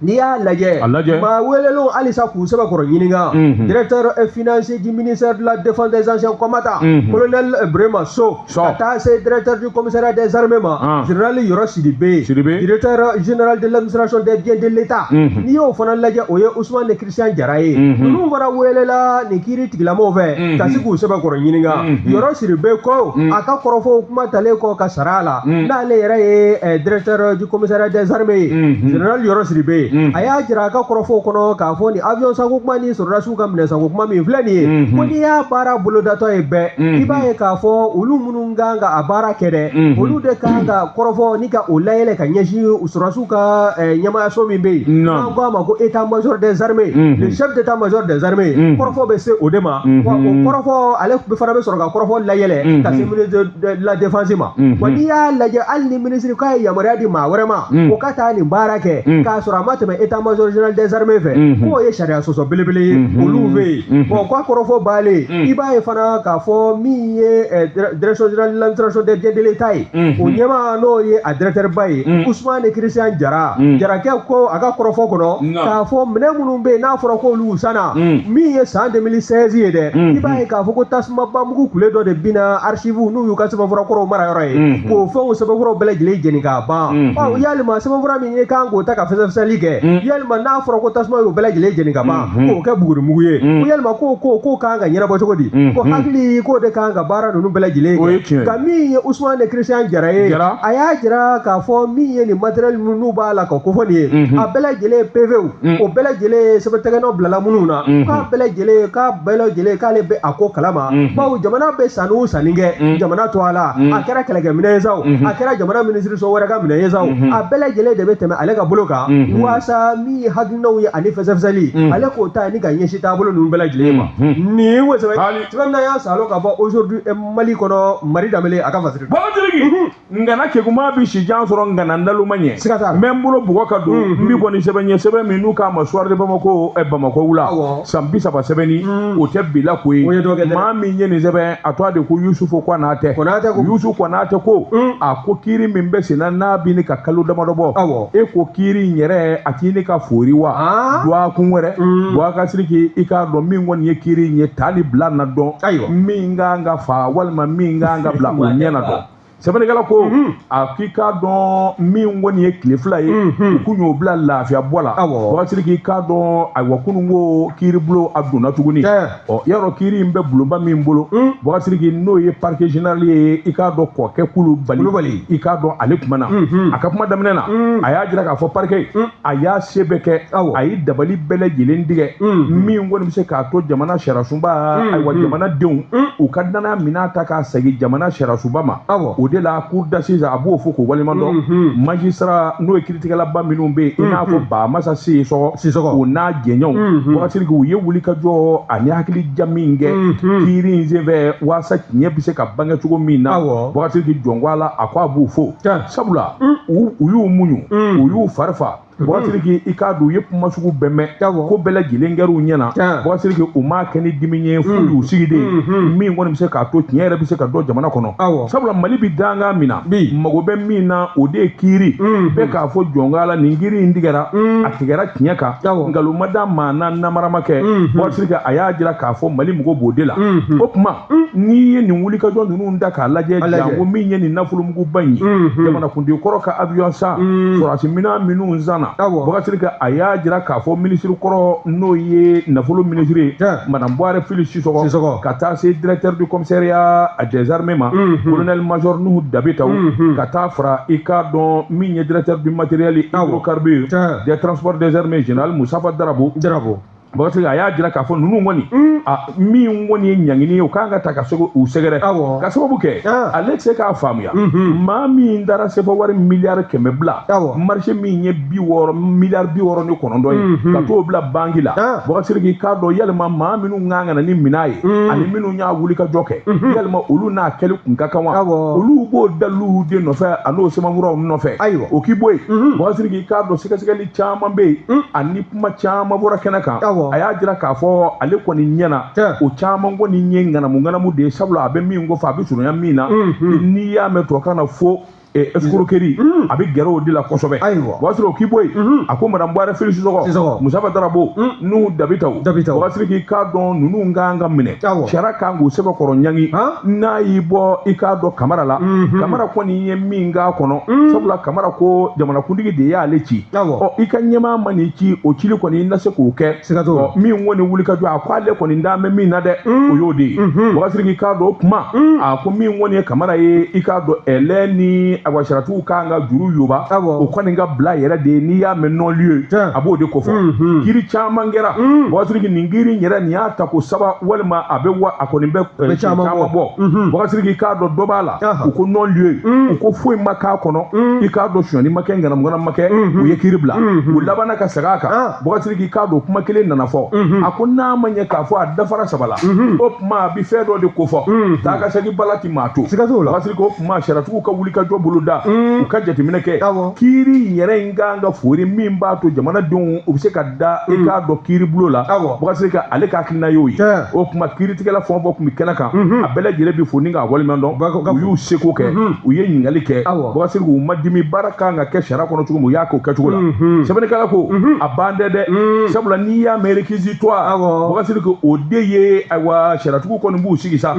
n'i y'a lajɛ maa welelenw halisa k'u sɛbɛkɔrɔ ɲininka directeur financier du ministère de la défense des anciens combattants colonel Burema So ka taa se directeur du commissariat des armées ma ah. général yɔrɔ sidibe directeur général de l'administration des biens de l'état mhm. n'i y'o fana lajɛ o ye ousmane christian jara ye mhm. ninnu fana welela nin kiiri tigilamɔgɔw fɛ mhm. ka se k'u sɛbɛkɔrɔ ɲininka yɔrɔ sidibe ko a ka kɔrɔfɔw kuma talen kɔ ka sara a la n'ale yɛrɛ ye eh, directeur du commissariat des armées ye général yɔrɔ sidibe a y'a jira a ka kɔrɔfɔw kɔnɔ k'a fɔ nin avion sanko kuma ni sɔrɔdasiw ka minɛnsanko kuma min filɛ nin ye mhm. ko n'i y'a baara bolodatɔ ye bɛɛ mhm. i b'a ye k'a fɔ olu minnu kan ka a baara kɛ dɛ mhm. olu de kan ka kɔrɔfɔ ni ka o layɛlɛ ka ɲɛsin sɔrɔdasiw ka eh, ɲɛmaayaso min bɛ yen n'an ko a ma ko état major des armées le chef d'état major des armées kɔrɔfɔ bɛ se o de ma wa o kɔrɔfɔ ale fana bɛ sɔrɔ ka kɔrɔfɔ layɛlɛ ka se de la défense ma Mhm. wa n'i y'a lajɛ hali ni minisiri k'a ye yamaruya di maa wɛrɛ ma Mhm. o ka taa nin baara kɛ Mhm. k'a sɔrɔ a ma tɛmɛ état major général des armées fɛ Mhm. k'o ye sariya sɔsɔ belebele ye Mhm. olu fɛ yen Mhm. bon k'a kɔrɔfɔ baalen Mhm. i b'a ye fana k'a fɔ min ye eh, dire- direction générale de l'administration des biens de l'état ye Mhm. o ɲɛmaa n'o ye a directeur ba ye Mhm. ousmane christian jara Mhm. jarakɛ ko a ka kɔrɔfɔ kɔnɔ Mhm. k'a fɔ minɛn minnu bɛ yen n'a fɔra k'olu olu sanna mm. min ye san 2016 ye dɛ mm. i b'a ye k'a fɔ ko tasumaba mugu kule dɔ de binna archive n'o y'u ka sɛbɛnfura kɔrɔw mara yɔrɔ ye mm. k'o fɛnw sɛbɛnfuraw bɛɛ lajɛlen jeni k'a ban mm-hmm. ɔ yalima sɛbɛnfura min ye kan k'o ta ka fɛsɛfɛsɛli kɛ mm. yalima n'a fɔra ko tasuma y'o bɛɛ lajɛlen jeni ka ban mm-hmm. k'o kɛ bugurimugu ye ko yalima k'o ko k'o kan ka ɲɛnabɔ cogo di mm-hmm. ko hakili k'o de kan ka baara ninnu bɛɛ lajɛlen kɛ nka min ye Usman Christian Jara ye a y'a jira k'a fɔ min ye nin matériel n'u b'a la ka kofɔ nin ye a bɛɛ lajɛlen PV Mm. o bɛɛ lajɛlen ye sɛbɛntɛgɛnɔ bilala minnu na mm-hmm. k'a bɛɛ lajɛlen k'a bɛɛ lajɛlen k'ale bɛ a ko kalama mm-hmm. bawo jamana bɛ sanni o sanni kɛ mm-hmm. jamana tɔgɔ la a kɛra kɛlɛkɛminɛn ye sa o a kɛra jamana minisiriso wɛrɛ ka minɛn ye sa o a bɛɛ lajɛlen de bɛ tɛmɛ ale ka bolo kan waasa min ye hakilinaw ye ani fɛsɛfɛsɛli ale k'o ta ni k'a ɲɛsin taabolo ninnu bɛɛ lajɛlen ma nin wo sɛbɛn sɛbɛn y'a salo ka bɔ aujourd'hui mali kɔnɔ mari danbele a ka fasiri ngana keguma bi si jan sɔrɔ ngana naloma ɲɛ siga t'a la n bɛ n bolo bugɔ ka don n b'i kɔni sɛbɛn ɲɛ sɛbɛn min n'u k'a ma soir de bamako ɛ bamakɔ wula Awɔ. san bi saba sɛbɛnni o tɛ bila ko ye O ye dɔ kɛ dɛ. maa min ye nin sɛbɛn a tɔgɔ de ko yusufu kɔnatɛ Konatɛ ko. yusufu kɔnatɛ ko a ko kiiri min bɛ senna n'a bi ɲini ka kalo damadɔ bɔ Awɔ. e ko kiiri in yɛrɛ a ti ɲini ka foori wa Ah. dɔgɔkun wɛrɛ bakasiriki i k'a dɔn min kɔni ye kiiri in ye ta ni bila na dɔn Ayiwa. min ka kan ka fa walima min ka kan ka bila o ɲɛ na dɔn sɛbɛnnikɛla ko mhm. a k'i k'a dɔn min kɔni ye tile fila ye mhm. u kun y'o bila lafiya bɔ la bakasiriki i k'a dɔn ayiwa kunun ko kiiri bulon a donna tuguni ɔ yarɔ kiiri in bɛ bulonba min bolo mhm. bakasiriki n'o ye parquet général ye i k'a dɔn kɔkɛ kulubali i k'a dɔn ale kuma na a ka kuma daminɛ na a y'a jira k'a fɔ parquet a y'a se bɛɛ kɛ a ye dabali bɛɛ lajɛlen tigɛ min kɔni bɛ se k'a to jamana sariyasunba ayiwa jamanadenw u ka danaya minɛn ta k'a segin jamana sariyasunba ma o de la cour d'assises a b'o fo k'o waleɲumandɔn magistrat n'o ye kiiritigɛlaba minnu bɛ yen i n'a fɔ bamasa sisɔgɔ o n'a jɛɲɔgɔnw bakasiriki u ye wuli ka jɔ ani hakili ja min kɛ kiiri in senfɛ waasa tiɲɛ bɛ se ka bange cogo min na bakasiriki jɔnko a la a ko a b'o fo sabula u y'u muɲu u y'u farifa bakasiriki i k'a dɔn u ye kuma sugu bɛɛ mɛn ko bɛɛ lajɛlen kɛra u ɲɛna bakasiriki u m'a kɛ ni dimi ye f'u y'u sigi de min kɔni bɛ se k'a to tiɲɛ yɛrɛ bɛ se ka dɔn jamana kɔnɔ sabula mali bɛ dankan min na mago bɛ min na o de ye kiiri bɛɛ k'a fɔ jɔnka la nin kiiri in tigɛra a tigɛra tiɲɛ kan nkalon ma da maa na namara ma kɛ bakasiriki a y'a jira k'a fɔ mali mago b'o de la o tuma n'i ye nin wulikajɔ ninnu da k'a lajɛ janko min ye nin nafolomuguba in ye jamanakuntigi kɔrɔ ka avion san sɔrɔdasi minɛn minnu sanna Bakasiriki a y'a jira k'a fɔ minisiri kɔrɔ n'o ye nafolo minisiri madame Buware Fili Sisɔkɔ ka taa se directeur du commissariat des armées ma colonel major Nuhu Dabitaw ka taa fara i k'a dɔn min ye directeur du matériel hydrocarbures des transports des armées général Musitafa Darabo Bakarijan a y'a jira k'a fɔ ninnu kɔni min kɔni ye ɲangini ye o kan ka ta ka segu u sɛgɛrɛ ka sababu kɛ ale tɛ se k'a faamuya maa min taara sefa wari miliyari kɛmɛ bila marché min ye miliyari bi wɔɔrɔ ni kɔnɔntɔn ye ka t'o bila banki la k'i k'a dɔn yalima maa minnu kan ka na ni minɛn ye ani minnu y'a wuli ka jɔ kɛ yalima olu n'a kɛli kun ka kan wa olu b'o dalilu de nɔfɛ an'o sɛbɛnfuraw nɔfɛ ayiwa o k'i bɔ yen k'i k'a dɔn sɛgɛsɛgɛli caman bɛ yen ani kuma caman bɔra kɛnɛ kan a y'a jira k'a fɔ ale kɔni ɲɛna o caman kɔni ye ŋanamu ŋanamu de ye sabula a bɛ min ko fɔ a bɛ surunya min na n'i y'a mɛn tubabukan na fo escroquerie a bɛ gɛrɛ o de la kosɛbɛ o b'a sɔrɔ o k'i bɔ yen a ko madame Buware Fili Sisɔkɔ Musitafa Darabo Nuhun Dabitaw o ka siri k'i k'a dɔn ninnu ka kan ka minɛ sariya ka kan k'u sɛbɛkɔrɔ ɲangi n'a y'i bɔ i k'a dɔn Kamara la Kamara kɔni ye min k'a kɔnɔ mm. sabula Kamara ko jamanakuntigi de y'ale ci ɔ i ka ɲɛmaa man'i ci o cili kɔni i na se k'o kɛ sigatɔ min kɔni wuli ka jɔ a ko ale kɔni da bɛ min na dɛ mm. o y'o de ye mm-hmm. wakasiriki k'a dɔn o kuma mm. a ko min kɔni ye Kamara ye i k'a dɔn ale ni ayiwa sariyatigiw kan ka juru yɔba o kɔni k'a bila yɛrɛ de ye n'i y'a mɛn non-lieu ye a b'o de kofɔ mm-hmm. kiiri caman kɛra wakasiriki nin kiiri in yɛrɛ nin y'a tako saba walima a bɛ wa a kɔni bɛ eh, caman bɔ wakasiriki k'a dɔn dɔ b'a la u ko non-lieu mm. u ko foyi ma k'a kɔnɔ mm. i k'a dɔn sonyani ma kɛ ŋanamuŋana ma kɛ mm-hmm. u ye kiiri bila mm-hmm. u labanna ka segin a kan ah. bɔgasiri k'i k'a dɔn kuma kelen nana fɔ mm-hmm. a ko n'a ma ɲɛ k'a fɔ a dafara saba la o tuma a bi fɛn dɔ de kofɔ taa ka segin bala ti maa to bɔgasiri ko o tuma sariyatigiw ka wuli ka jɔ bolo da mm. u ka jateminɛ kɛ kiiri yɛrɛ in kan ka foori min b'a to jamanadenw u bɛ se ka da i k'a dɔn kiiri bulo la bɔgasiri ka ale ka hakilina y'o ye o tuma kiiri tigɛla fɛn o fɛn tun bɛ kɛnɛ kan mhm. a bɛɛ lajɛlen bɛ fo ni k'a waleɲuman dɔn u y'u seko kɛ mhm. u ye ɲininkali kɛ bakasiri u ma dimi baara kan ka kɛ sariya kɔnɔ cogo min u y'a k'o kɛcogo la mhm. sɛbɛnnikɛla ko a ban tɛ dɛ sabula n'i y'a mɛn réquisitoire bakasiri ko o de ye ayiwa sariyatigiw kɔni b'u sigi sa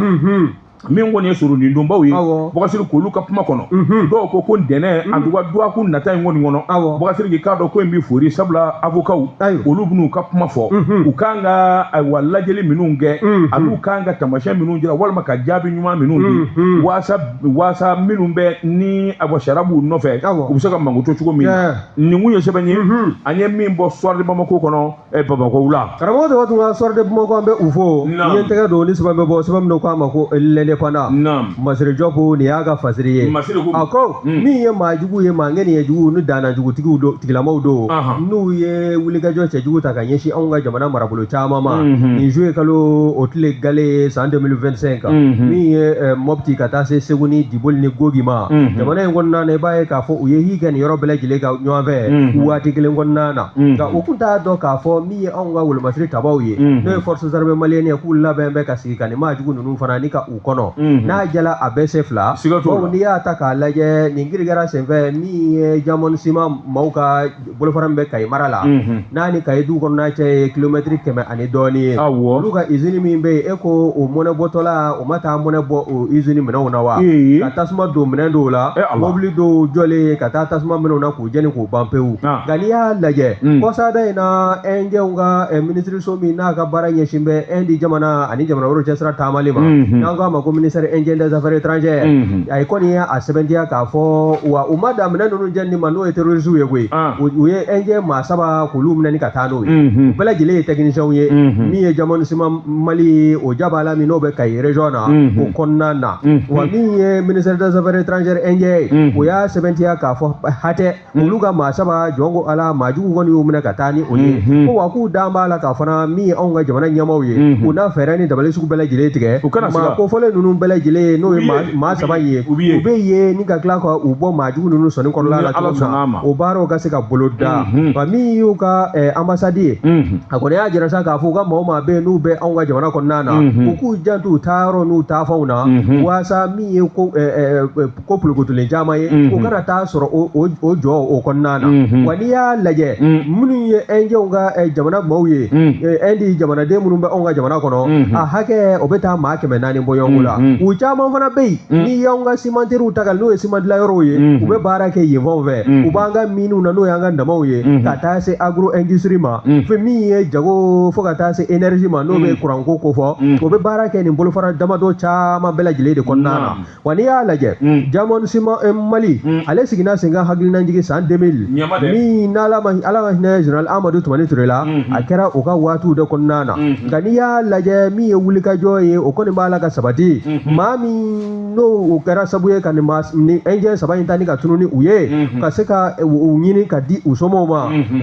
min kɔni ye soronadonbaw ye bɔgasiri k'olu ka kuma kɔnɔ mhm. dɔw ko ko ntɛnɛn mhm. en tout cas dɔgɔkun nata in kɔni kɔnɔ bɔgasiri k'i k'a dɔn ko in bɛ foori sabula awokaw olu bɛn'u ka kuma fɔ mhm. u kan ka ayiwa lajɛli minnu kɛ mhm. ani'u kan ka taamasiyɛn minnu jira walima ka jaabi ɲuman minnu di mhm. waasa waasa minnu bɛ ni ayiwa sariya b'u nɔfɛ u bɛ se ka mankuto cogo min na nin kun ye sɛbɛn ye an ye min bɔ Soir de Bamako kɔnɔ eh, bamakɔ la. karamɔgɔ tɔgɔ tun ka Soir de Bamako an bɛ u fo n ye n tɛgɛ don ni sɛbɛn bɛ bɔ sɛbɛn min k'a ma ko L'Indépendant. Masiri Jɔpu nin y'a ka fasiri ye masiri a ko min ye maa jugu ye maa ŋaniya jugu ni dannaya jugutigiw don tigilamaw don n'u ye wulikajɔ cɛjugu ta ka ɲɛsin anw ka jamana marabolo caman ma nin juillet kalo o tile gale san 2025 min ye mɔti ka taa se segu ni diboli ni gogi ma jamana in kɔnɔna na i b'a ye k'a fɔ u ye girin kɛ nin yɔrɔ bɛɛ lajɛlen kan ɲɔgɔnfɛ waati kelen kɔnɔna na nka u tun t'a dɔn k'a fɔ min ye anw ka wolomasiri tabaw ye n'o ye forces armées maliennes ye k'u labɛn bɛ ka sigi ka nin maa jugu ninnu fana kɔnɔ n'a jɛla a bɛ se fila bawo n'i y'a ta k'a lajɛ nin girin kɛra senfɛ min ye jamɔni siman maaw ka bolofara min bɛ kayi mara la n'a ni kayi du kɔnɔna cɛ ye kilomɛtiri kɛmɛ ani dɔɔni ye olu ka izini min bɛ yen e ko o mɔnɛ bɔtɔla o ma taa mɔnɛ bɔ o izini minɛnw na wa ka tasuma don minɛn dɔw la mobili dɔw jɔlen ka taa tasuma mɛnɛ u na k'u jɛni k'u ban pewu nka n'i y'a lajɛ kɔsada in na ɛnjɛw ka minisiri so min n'a ka baara ɲɛsin bɛ indi jamana ani jamana wɛrɛw cɛsira taamali ma n'an k'a ma ko ministère indien des affaires étrangères ale kɔni ye a sɛbɛntiya k'a fɔ wa u ma dan minɛn ninnu jɛni ma n'o ye terrorisiw ye koyi u ye indien maa saba k'olu minɛni ka taa n'o ye u bɛɛ lajɛlen ye techniciens ye min ye jamɔni siman mali o ja b'a la min n'o bɛ kayi région na o kɔnɔna na wa min ye ministère des affaires étrangères indien ye o y'a sɛbɛntiya k'a fɔ hatɛ olu ka maa saba jɔn ko ala maa jugu kɔni y'u minɛ ka taa ni u ye ko wa k'u da b'a la ka fana min ye anw ka jamana ɲɛmaaw ye u na fɛɛrɛ ni dabali sugu bɛɛ lajɛlen tigɛ maa kofɔlen ninnu bɛɛ lajɛlen n'o ye maa saba ye u bɛ ye ni ka tila ka u bɔ maa jugu ninnu sɔnin kɔnɔna la cogo min na o baaraw ka se ka boloda wa min y'u ka anbasadi ye a kɔni y'a jira sa k'a fɔ u ka maa o maa bɛ yen n'u bɛ anw ka jamana kɔnɔna na u k'u janto u taa yɔrɔ n'u taa fanw na walasa min ye ko ko polokotolen caman ye u kana taa sɔrɔ o jɔ o kɔnɔna na wa n'i y'a lajɛ minnu ye ɛnjɛw ka jamana maaw ye ɛndi jamanaden minnu bɛ anw ka jamana kɔnɔ a hakɛ o bɛ taa maa kɛmɛ naani bɔ ɲɔgɔn la u caman fana bɛ yen n'i y'anw ka simanteriw ta n'o ye siman dilanyɔrɔw ye u bɛ baara kɛ yen fanw fɛ u b'an ka miniw na n'o y'an ka damanw ye ka taa se agro industrie ma fo min ye jago fo ka taa se energie ma n'o bɛ kuranko kofɔ u bɛ baara kɛ nin bolofara damadɔ caman bɛɛ lajɛlen de kɔnɔna na wa n'i y'a lajɛ jamɔni siman mali ale sigira sen kan hakilinajigi san 2000 min n'ala ma ala ka hinɛ general amadu tumani ture la a kɛra o ka waatiw de kɔnɔna na nka n'i y'a lajɛ min ye wulikajɔ ye o kɔni b'a la ka sabati maa min n'o o kɛra sabu ye ka nin maa ni ɛnjɛ saba in ta ni ka tunun ni u ye ka se ka u ɲini ka di u somɔw ma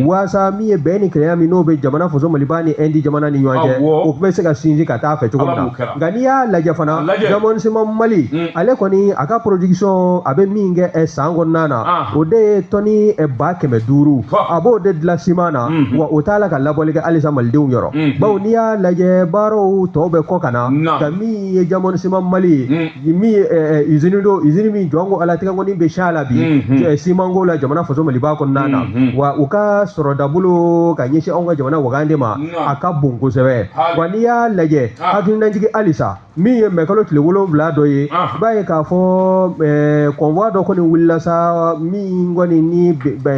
waasa min ye bɛn ni kelenya min n'o bɛ jamana faso maliba ni ɛndi jamana ni ɲɔgɔn cɛ o bɛ se ka sinsin ka taa fɛ cogo min na nka n'i y'a lajɛ fana Diamond Ciment Mali mm. ale kɔni a ka production a bɛ min kɛ eh, san kɔnɔna na ah. o de ye tɔni eh, ba kɛmɛ duuru a b'o de dilan siman na mm-hmm. wa o t'a la ka labɔli kɛ halisa malidenw yɔrɔ mm-hmm. bawo n'i y'a lajɛ baaraw tɔw bɛ kɔ ka na ka min ye Diamond Ciment Mali ye mm. min ye eh, izini don izini min jɔn ko ala tigɛ kɔni bɛ s'a la bi mm-hmm. simanko la jamana faso maliba kɔnɔna na wa u ka sɔrɔdabolo ka ɲɛsin anw ka jamana wagande ma a ka bon kosɛbɛ wa n'i y'a lajɛ hakilinajigi halisa min ye mɛkalo tile wolonwula don ye i b'a ye k'a fɔ convoi dɔ kɔni wulila sa min kɔni ni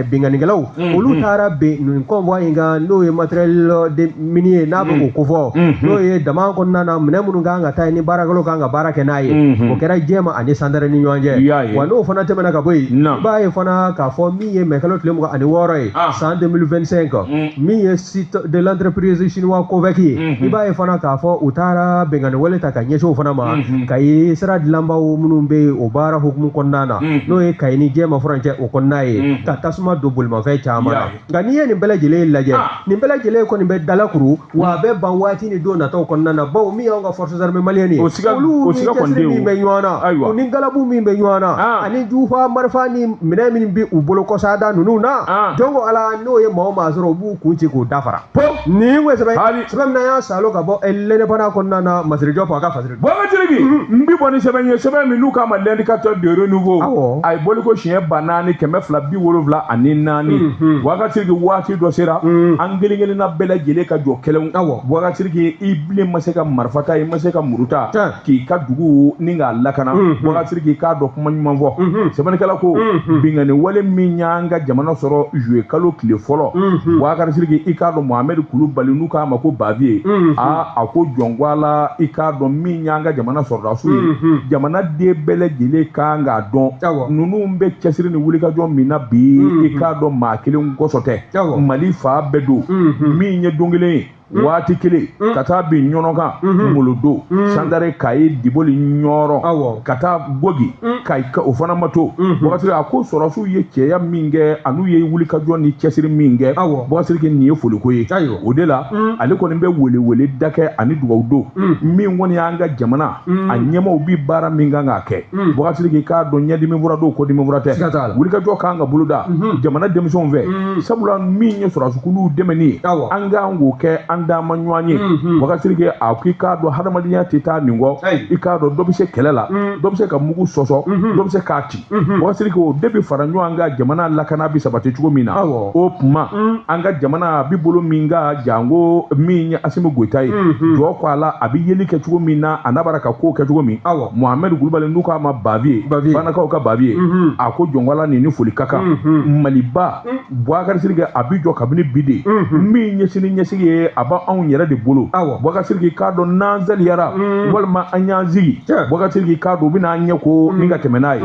binkannikɛlaw olu taara bin nin convoi in kan n'o ye matériel minier ye n'a bɛ ko kofɔ n'o ye daman kɔnɔna na minɛn minnu kan ka taa ni baarakɛlaw kan ka baara kɛ n'a ye o kɛra jɛma ani sandare ni ɲɔgɔn cɛ wa n'o fana tɛmɛna ka bɔ yen i b'a ye fana k'a fɔ min ye mɛkalo tile mugan ani wɔɔrɔ ye san deux mille vingt-cinq min ye site de l'entreprise chinois Covec ye mm -hmm. i b'a ye fana k'a fɔ u taara binkanni wale ta ka ɲɛsin o fana ma mm -hmm. kayi sira dilanbaw minnu bɛ yen o baara hukumu kɔnɔna na mm -hmm. n'o ye kayi ni jɛma furancɛ o kɔnɔna ye mm -hmm. ka tasuma don bolimafɛn caman na nka n'i ye nin bɛɛ lajɛlen lajɛ ah. nin bɛɛ lajɛlen kɔni bɛ dalakuru wa a bɛ ban waati ni don nataw kɔnɔna na bawo min y'anw ka forces armées maliennes ye olu ni cɛsiri min bɛ ɲɔgɔn na u ni galabu min bɛ ɲɔgɔn na ah. ani jufa marifa ni minɛn min bɛ u bolo kɔsa don ninnu na ah. jɔnko ala n'u ye maa o maa sɔrɔ u b'u kun ci k'u dafara nin ko sɛbɛn sɛbɛn min y'a salo ka bɔ lɛnɛbana kɔnɔna na masire jɔpu a ka fasiri bɔkari siriki n bi bɔ ni sɛbɛn ye sɛbɛn min n'u k'a ma L'Indicateur du Renouveau a ye bɔliko siɲɛ ba naani kɛmɛ fila bi wolonwula ani naani bɔkari siriki waati dɔ sera an kelen kelenna bɛɛ lajɛlen ka jɔ kɛlɛ bɔkari siriki i bilen ma se ka marifa ta i ma se ka muru ta k'i ka dugu nin k'a lakana bɔkari siriki i k'a dɔn kuma ɲuman fɔ sɛbɛnnikɛla ko binkanni wale min y'an ka jamana sɔrɔ zuluye kalo tile fɔlɔ bɔkari siriki i k'a dɔn mohamɛdi kulubali n'u k'a ma ko baviye aa a ko jɔn ko a la i k'a dɔn min y'an ka jamana sɔrɔdasiw ye jamana den bɛɛ lajɛlen kan k'a dɔn ninnu bɛ cɛsiri ni wulikajɔ min na bi i k'a dɔn maa kelen kosɔn tɛ mali fan bɛɛ don min ye don kelen ye Hmm. waati kelen hmm. ka taa bin ɲɔnɔ kan hmm. molodo sandare kayi diboli ɲɔrɔ ka taa gogi ka o fana ma to bɔkari siriki a ko sɔrɔsiw ye cɛya min kɛ an'u ye wulikajɔ ni cɛsiri min kɛ bɔkari siriki nin ye foliko ye o de la ale kɔni bɛ weleweleda kɛ ani dugawu don min kɔni y'an ka jamana a ɲɛmɔgɔw bi baara min kan k'a kɛ bɔkari siriki i k'a dɔn ɲɛdimi fura don kɔdimi fura tɛ wulikajɔ kan ka boloda jamana denmisɛnw fɛ sabula min ye sɔrɔsikuluw dɛmɛni ye an kan k'o kɛ an dama ɲɔgɔn ye bɔkari siriki a k'i k'a dɔn hadamadenya tɛ taa nin kɔ i k'a dɔn dɔ bɛ se kɛlɛ la dɔ bɛ se ka mugu sɔsɔ dɔ bɛ se k'a ci Bukari Siriki o de bɛ fara ɲɔgɔn an ka jamana lakana bɛ sabati cogo min na o tuma an ka jamana bɛ bolo min kan janko min ye asimi goyita ye jɔn ko ala a bɛ yeli kɛ cogo min na a n'a bara ka ko kɛ cogo min mohamɛdi kulubali n'u k'a ma baviye banakaw ka baviye a ko jɔn ko ala nin ni foli ka kan maliba Bukari Siriki a bɛ jɔ kabini bi de min ye sini ɲɛsigi ye a bɛ anw yɛrɛ de bolo Bukari Siriki k'a dɔn n'an salayara walima an y'an sigi Bukari Siriki k'a dɔn u bɛna ɲɛ ko min ka tɛmɛ n'a ye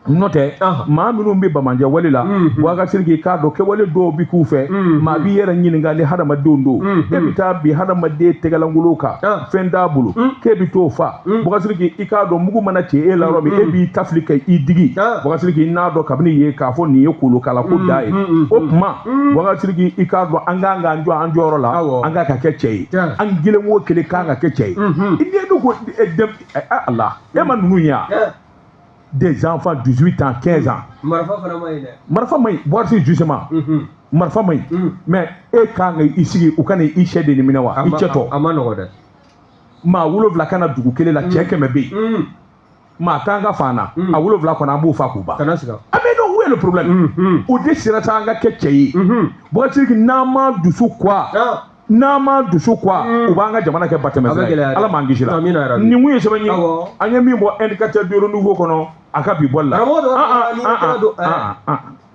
nɔntɛ maa minnu bɛ banbaanci wale la Bukari Siriki k'a dɔn kɛwale dɔw bɛ k'u fɛ maa b'i yɛrɛ ɲininka ni hadamadenw don e bɛ taa bi hadamaden tɛgɛlankolon kan fɛn t'a bolo k'e bɛ t'o faa mm. Bukari Siriki i k'a dɔn mugu mana ci e la yɔrɔ min e b'i ta fili ka i digi Bukari Siriki n'a dɔn kabini ye k'a fɔ nin ye kolokala ko da ye o tuma Bukari Siriki i k'a dɔn an kan k'an jɔ an jɔyɔrɔ la an kan ka kɛ cɛ ye an kelen o kelen kan ka kɛ cɛ ye i den dun ko ala e ma ninnu ye des enfants 18 ans 15 ans marifa fana ma ɲi dɛ marifa ma ɲi Bukari Siriki justement marifa ma ɲi mais e kan ka i sigi u ka na i sɛ de ni minɛ wa i cɛ tɔ a ma nɔgɔ dɛ maa wolonwula ka na dugu kelen la cɛ mm. kɛmɛ bɛ yen mm. maa kan ka faa an na mm. a wolonwula kɔni an b'o faa k'u ban a bɛ dɔn où est le problème mm-hmm. o de siratɛ an ka kɛ cɛ ye mm-hmm. Bukari Siriki n'an ma dusu quoi ah. n'an ma dusu quoi u b'an ka jamana kɛ batɛmɛ sira ye ala m'an kisila nin tun ye sɛbɛn ye an ye min bɔ indicateur de renouveau kɔnɔ a ka bi bɔli la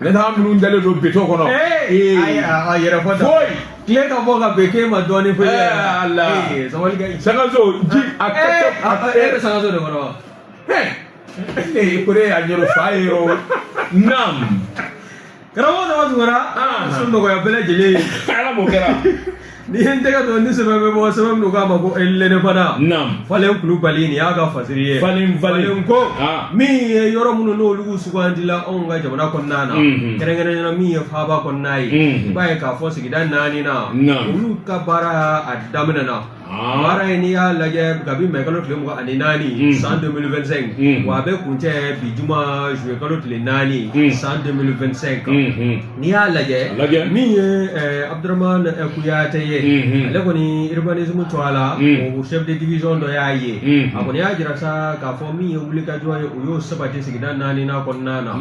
ne taa minnu dalen don beton kɔnɔ ee ayi a yɛrɛ fɔ da foyi tile ka bɔ ka bɛn k'e ma dɔɔnin foyi ɛɛ ala sabali ka ɲi sangaso ji a ka kɛ a ka e bɛ sangaso de kɔnɔ wa ee kore a ɲɛrɛ fa ye o naam karamɔgɔ dama tun kɛra sun nɔgɔya bɛɛ lajɛlen ye ala b'o kɛra ni n tɛgɛ don ni sɛbɛn bɛ bɔ sɛbɛn min k'a ma ko elene fana naam falen kulubali nin y'a ka fasiri ye falen falen falen ko Ah. min ye yɔrɔ minnu n'olu sugandila anw ka jamana kɔnɔna na Mhm. kɛrɛnkɛrɛnya na min ye faaba kɔnɔna ye Mhm. i b'a ye k'a fɔ sigida naani na Naam. olu ka baara a daminɛna Ah. baara ye n'i y'a lajɛ kabi mɛ kalo tile mugan ani naani Mhm. san 2025 Mhm. wa a bɛ kuncɛ bi juma zuye kalo tile naani Mhm. san 2025 Mhm. n'i y'a lajɛ min ye abudurahamani kuyate ye ale kɔni urbanisme tɔgɔ la o chef de division dɔ y'a ye a kɔni y'a jira sa k'a fɔ min ye wulikajɔ ye o y'o sabati sigida naani n'a kɔnɔna na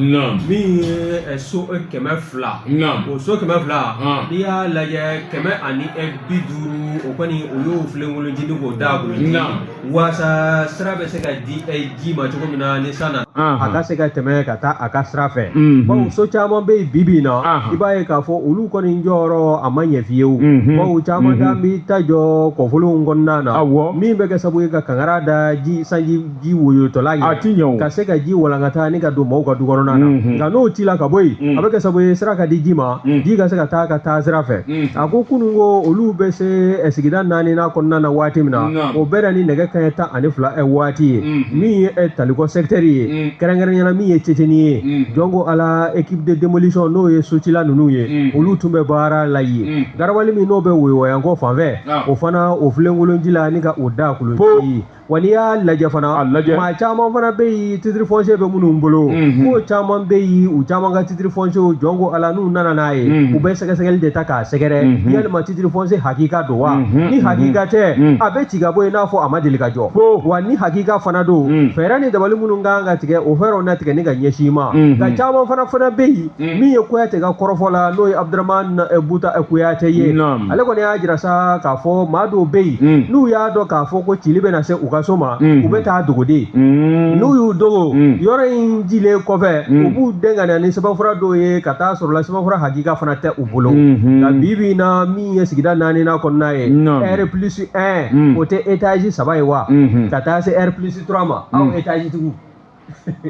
min ye so kɛmɛ fila o so kɛmɛ fila n'i y'a lajɛ kɛmɛ ani bi duuru o kɔni o y'o filenkolonjini k'o d'a kun waasa sira bɛ se ka di eh, ji ma cogo min na ni san na a ka se ka tɛmɛ ka taa a ka sira fɛ mhm. bawo so caman bɛ yen bi bi in na i b'a ye k'a fɔ olu kɔni jɔyɔrɔ a ma ɲɛ fiyewu mhm. bawo caman t'an mhm. bi ta jɔ kɔfolonw kɔnɔna na min bɛ kɛ sabu ye ka kankara da ji sanji ji woyotɔla ye ka se ka ji walankata ni ka don mɔgɔw ka du kɔnɔna na nka n'o cila ka bɔ yen a bɛ kɛ sabu ye sira ka di ji ma ji ka se ka taa ka taa sira fɛ a ko kunun ko olu bɛ se eh, sigida naaninan kɔnɔna na waati min na o bɛnna ni nɛgɛ kanɲɛ tan ani fila eh, waati ye min ye eh, talikɔ sɛkitɛri ye kɛrɛnkɛrɛnyana min ye ceceni ye jɔn ko ala équipe de démolition n'o ye socila ninnu ye olu tun bɛ baara la yen garabali min n'o bɛ woyowayankɔ fanfɛ o fana o filenkolon cila ni ka o dagakolon ci Wa n'i y'a lajɛ fana, a lajɛ, maa caman fana bɛ yen titre foncier bɛ minnu bolo, unhun, k'o caman bɛ yen u caman ka titre foncier jɔn ko Ala n'u nana n'a ye, unhun, u bɛ sɛgɛsɛgɛli de ta k'a sɛgɛrɛ, unhun, yalima titre foncier hakika don wa, unhun, ni hakika tɛ, unhun, a bɛ ci ka bɔ yen i n'a fɔ a ma deli ka jɔ, ko, wa ni hakika fana don, unhun, fɛɛrɛ ni dabali minnu ka kan ka tigɛ o fɛɛrɛw na tigɛ ni ka ɲɛsin i ma, unhun, nka caman fana fana bɛ yen Mm. min ye kuyate ka kɔrɔfɔ la n'o ye abdurahman eh, buta eh, kuyate ye ale kɔni y'a jira sa k'a fɔ maa dɔw bɛ yen mm. n'u y'a dɔn k'a fɔ ko cili bɛna se u ka so ma mm. u bɛ taa dogo de n'u y'u dogo yɔrɔ in cilen kɔfɛ u b'u den ka na ni sɛbɛnfura dɔw ye ka taa sɔrɔla sɛbɛnfura hakika fana tɛ u bolo mm-hmm. nka bi bi in na min ye sigida naaninan kɔnɔna ye ɛri plus un o tɛ etazi saba ye wa mm-hmm. ka taa se ɛri plus trois ma aw etazi tigiw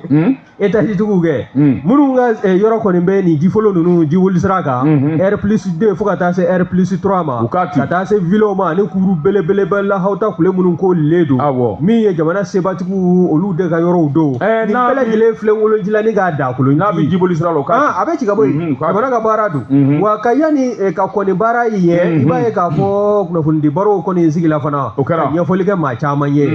Hmm? etaji tigiw kɛ hmm. minnu ka eh, yɔrɔ kɔni bɛ nin jifolon ninnu jiboli sira kan hmm, r plus deux fo ka taa se r plus trois ma ka taa se villaw ma ani kuru belebeleba lahawuta kule minnu ko le don min ye jamana sebatigiw olu de ka yɔrɔw don eh, nin bɛɛ lajɛlen filenkolon cila ni k'a dagakolon n'a bɛ jiboli sira la ah, a bɛ ci ka bɔ yen jamana ka baara don wa nka yanni eh, ka kɔni baara in ye i b'a ye k'a fɔ kunnafonidi barow kɔni sigila fana ka ɲɛfɔli kɛ maa caman ye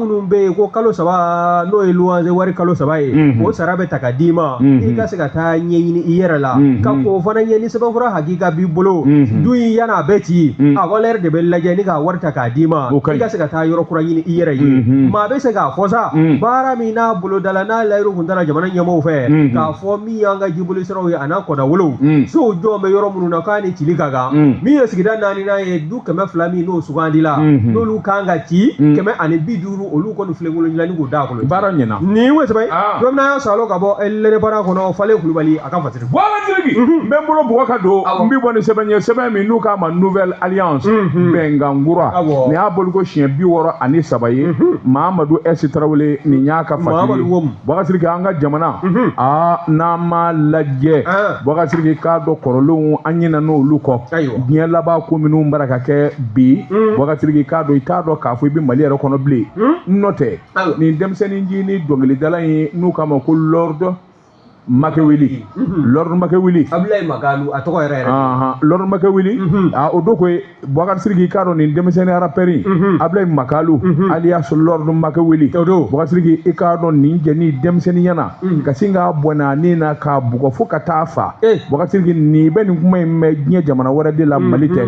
minnu bɛ yen ko kalo saba n'o ye luwanse wari kalo saba ye mhm. o sara bɛ ta ka d'i ma mhm. i ka se ka taa ɲɛɲini i yɛrɛ la mhm. ka k'o fana ɲɛ ni sɛbɛnfura hakika b'i bolo du in yann'a bɛ ci a valeur de bɛ lajɛ ni k'a wari ta k'a d'i ma i ka se ka taa yɔrɔ kura ɲini i yɛrɛ ye maa bɛ se k'a fɔ sa baara min n'a bolodala n'a layidu tun tara jamana ɲɛmɔgɔw fɛ k'a fɔ min y'an ka jiboli siraw ye an'a kɔdawolow sow jɔlen bɛ yɔrɔ minnu na k'a ni cili ka kan min ye sigida naaninan ye kɛmɛ fila min n'o sugandila mhm. n'olu kan ka ci mhm. kɛmɛ ani bi duuru olu kɔni filenkolon cila ni k'o dagakolon baara ɲɛna nin ye wesɛbɛ ah. don min na y'a salo ka bɔ eh, l'indépendant kɔnɔ fale kulubali a ka fatiri bɔla jiriki mhm. n bɛ n bolo bɔgɔ ka don n bɛ bɔ ni sɛbɛn ye sɛbɛn min n'u k'a ma nouvelle alliance bɛnkan kura nin y'a boliko siɲɛ bi wɔɔrɔ ani saba ye mamadu ɛsi tarawele nin y'a ka fatiri ye Boubacar Siriki an ka jamana aa n'an m'a lajɛ Boubacar Siriki k'a dɔn kɔrɔlenw an ɲinan'olu kɔ diɲɛ laban ko minnu b'a la ka kɛ bi Boubacar Siriki k'a dɔn i t'a dɔn k'a fɔ i bɛ Mali yɛrɛ kɔnɔ bilen n'o tɛ nin denmisɛnnin ncinin dɔnkilidala ye n'u k'a ma ko Lord Makeweli Lord Makeweli a tɔgɔ Lord Makeweli o don ko Boubacar Siriki k'a dɔn nin denmisɛnnin arapɛri mhm. Ablaye Makalu mhm. alias Lord Makeweli Boubacar Siriki i k'a dɔn nin jɛni denmisɛnnin ɲɛna mhm. ka sin k'a bɔnɛ a ni na k'a bugɔ fo ka t'a faa eh. Boubacar Siriki n'i bɛ nin kuma in mɛn diɲɛ jamana wɛrɛ de la Mali tɛ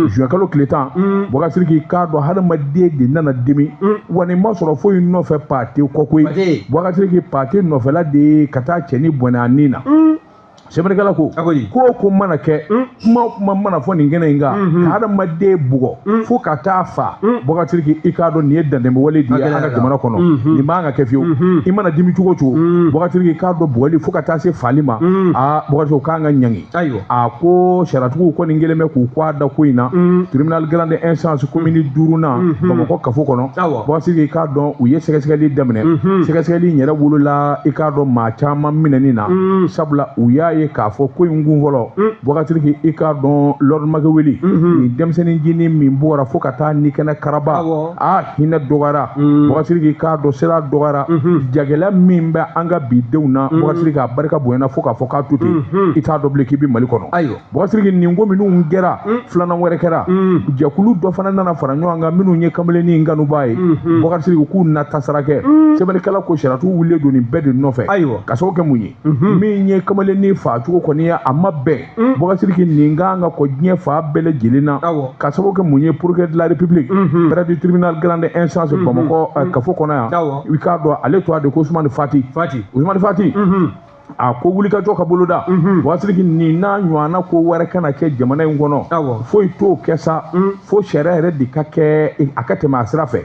juin kalo tile tan Boubacar Siriki k'a dɔn hadamaden de nana dimi wa nin ma sɔrɔ foyi nɔfɛ pate kɔ koyi Boubacar Siriki pate nɔfɛla de ye ka taa cɛnin bɔnɛ a ni na sɛbɛnnikɛla ko ko o ko mana kɛ hmm? kuma o kuma mana fɔ nin kɛnɛ in kan hmm, hmm. ka hadamaden bugɔ fo ka t'a faa Boubacar Siriki i k'a dɔn nin ye dantɛmɛwale de ye an ka jamana kɔnɔ nin man ka kɛ fiyewu i mana dimi cogo cogo Boubacar Siriki k'a dɔn bugɔli fo ka taa se faali ma aa Boubacar Siriki o kan ka ɲangi a ko sariyatigiw kɔni kɛlen bɛ k'u kɔ a da ko in na tribunal grande instance komini duurunan Bamakɔ kafo kɔnɔ Boubacar Siriki i k'a dɔn u ye sɛgɛsɛgɛli daminɛ sɛgɛsɛgɛli in yɛrɛ wolola i k'a dɔn maa caman minɛni na sabula u y'a ye k'a fɔ ko in kun fɔlɔ Boubacar Siriki i k'a dɔn Lord Makeweli nin denmisɛnnin ncinin min bugɔra fo ka t'a ni kɛnɛ karaba aa hinɛ dɔgɔyara Boubacar Siriki i k'a dɔn siran dɔgɔyara jagɛlɛya min bɛ an ka bidenw na Boubacar Siriki a barika bonyana fo k'a fɔ k'a to ten i t'a dɔn bilen k'i bɛ Mali kɔnɔ ayiwa Boubacar Siriki nin ko minnu kɛra mm. filanan wɛrɛ kɛra mm. jɛkulu dɔ fana nana fara ɲɔgɔn kan minnu ye kamalennin kanubaa ye mm-hmm. Boubacar Siriki k'u na tasara kɛ mm. sɛbɛnnikɛla ko sariyatigiw wulilen don nin bɛɛ de nɔfɛ ayiwa ka sababu kɛ mun ye mm-hmm. min ye kamalennin faa cogo kɔni ye a ma bɛn Boubacar Siriki nin kan ka kɔn diɲɛ fan bɛɛ lajɛlen na ka sababu kɛ mun ye procureur de la république mm-hmm. près du tribunal grande instance Bamakɔ eh, kafo kɔnɔ yan i k'a dɔn ale tɔgɔ de ko Ousmane Fati Ousmane Fati a ko wulikajɔ ka boloda mhm. Boubacar Siriki nin n'a ɲɔgɔnna ko wɛrɛ kana kɛ jamana in kɔnɔ foyi t'o kɛ sa mm. fo sariya yɛrɛ de ka kɛ e, a ka tɛmɛ a sira fɛ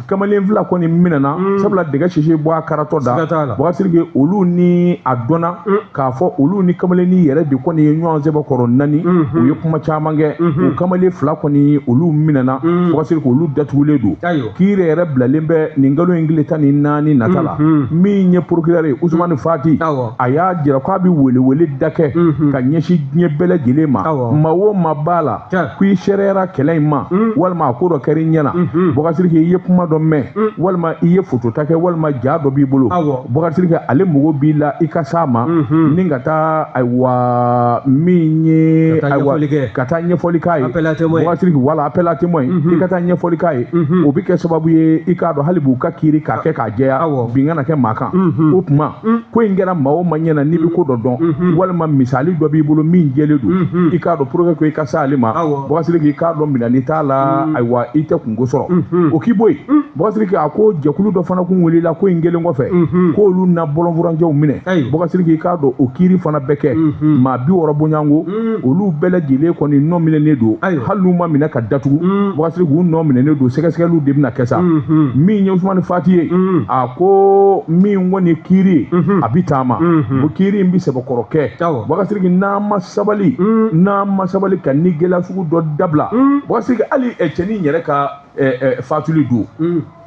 kamalen fila kɔni minɛna mm. sabula dɛgɛ sisi bɔ a karatɔ da Boubacar Siriki olu ni a dɔnna mm. k'a fɔ olu ni kamalennin yɛrɛ de kɔni ye ɲɔgɔn sɛbɛkɔrɔ nani mm-hmm. u ye kuma caman kɛ mm-hmm. o kamalen fila kɔni olu minɛna Boubacar Siriki olu datugulen don kiiri yɛrɛ bilalen bɛ nin kalo in tile tan ni naani nata la min ye procureur ye Ousmane Fati a y'a jira k'a bɛ weleweleda kɛ ka ɲɛsin diɲɛ bɛɛ lajɛlen ma maa o maa b'a la ko i seereyara kɛlɛ in ma walima a ko dɔ kɛra i ɲɛ na Boubacar Siriki i ye kuma dɔ mɛn walima i ye fotota kɛ walima ja dɔ b'i bolo Boubacar Siriki ale mago b'i la i ka s'a ma ni ka taa ayiwa min ye ayiwa ka taa ɲɛfɔli k'a ye Boubacar Sidiki wala appel à témoin mhm. i ka taa ɲɛfɔli k'a ye mhm. o bɛ kɛ sababu ye i k'a dɔn hali b'u ka kiiri k'a kɛ k'a jɛya bin kana kɛ maa kan mhm. o tuma ko in kɛra maa o maa ɲɛna n'i bɛ ko dɔ dɔn walima misali dɔ b'i bolo min jɛlen don i k'a dɔn pour que i ka s'ale ma Boubacar Sidiki i k'a dɔn minɛni t'a la ayiwa i tɛ kunko sɔrɔ o k'i bɔ yen Boubacar Sidiki a ko jɛkulu dɔ fana kun wulila ko in kelen kɔfɛ k'olu na bɔlɔnfurancɛw minɛ Boubacar Sidiki i k'a dɔn o kiiri fana bɛ kɛ maa bi wɔɔrɔ bɔɲɔgɔnko mm. olu bɛɛ lajɛlen kɔni nɔ minɛnen don ayi hali n'u ma minɛ ka datugu mm. Boubacar Sidiki u nɔ minɛnen don sɛgɛsɛgɛliw de bɛna kɛ sa mm-hmm. min ye usumani fati ye mm. a ko min kɔni ye kiiri ye mm-hmm. a bɛ taama mm-hmm. ko kiiri in bɛ sɛbɛkɔrɔ kɛ Boubacar Sidiki n'an ma sabali n'an ma sabali ka nin gɛlɛya sugu dɔ dabila Boubacar Sidiki hali cɛnin yɛrɛ ka fatuli don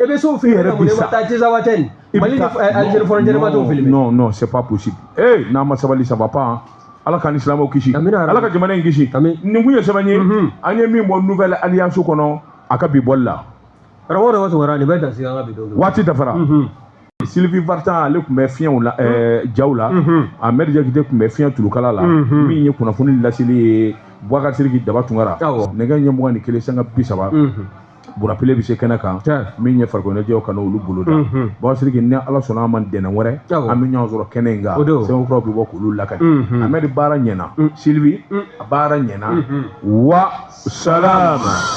E bɛ se o filmer yɛrɛ bi sa. Taa Tinzawaten Mali ni eh, Algérie frontière ma t'o filmer. Non non c'est pas possible. Eh n'a ma sabali ça va pas. Hein. Ala k'an ni silamɛw kisi. Ala ka jamana in kisi. Nin kun ye sɛbɛn ye. Mhm. An ye min bɔ nouvelle alliance kɔnɔ a ka bi bɔli la. Karamɔgɔ dɔ b'a sɔrɔ nin bɛ dan sigi an ka bi don. Waati dafara. Mhm. Sylvie Vartan ale tun bɛ fiɲɛw la eh, mhm. jaw la. Ahmed Diakite tun bɛ fiɲɛ tulukala la. Min ye kunnafoni laseli ye Boubacar Sidiki Daba Tunkara. Nɛgɛ ɲɛ mugan ni kelen sanga bi saba. burapile bɛ se kɛnɛ kan min ye farikoloɲɛnajɛw ka na olu bolo da Boubacar Sidiki ni ala sɔnna a ma ntɛnɛn wɛrɛ an bɛ ɲɔgɔn sɔrɔ kɛnɛ in kan sɛbɛnkuraw bɛ bɔ k'olu lakali Ahmed baara ɲɛna Sylvie a baara ɲɛna wa salama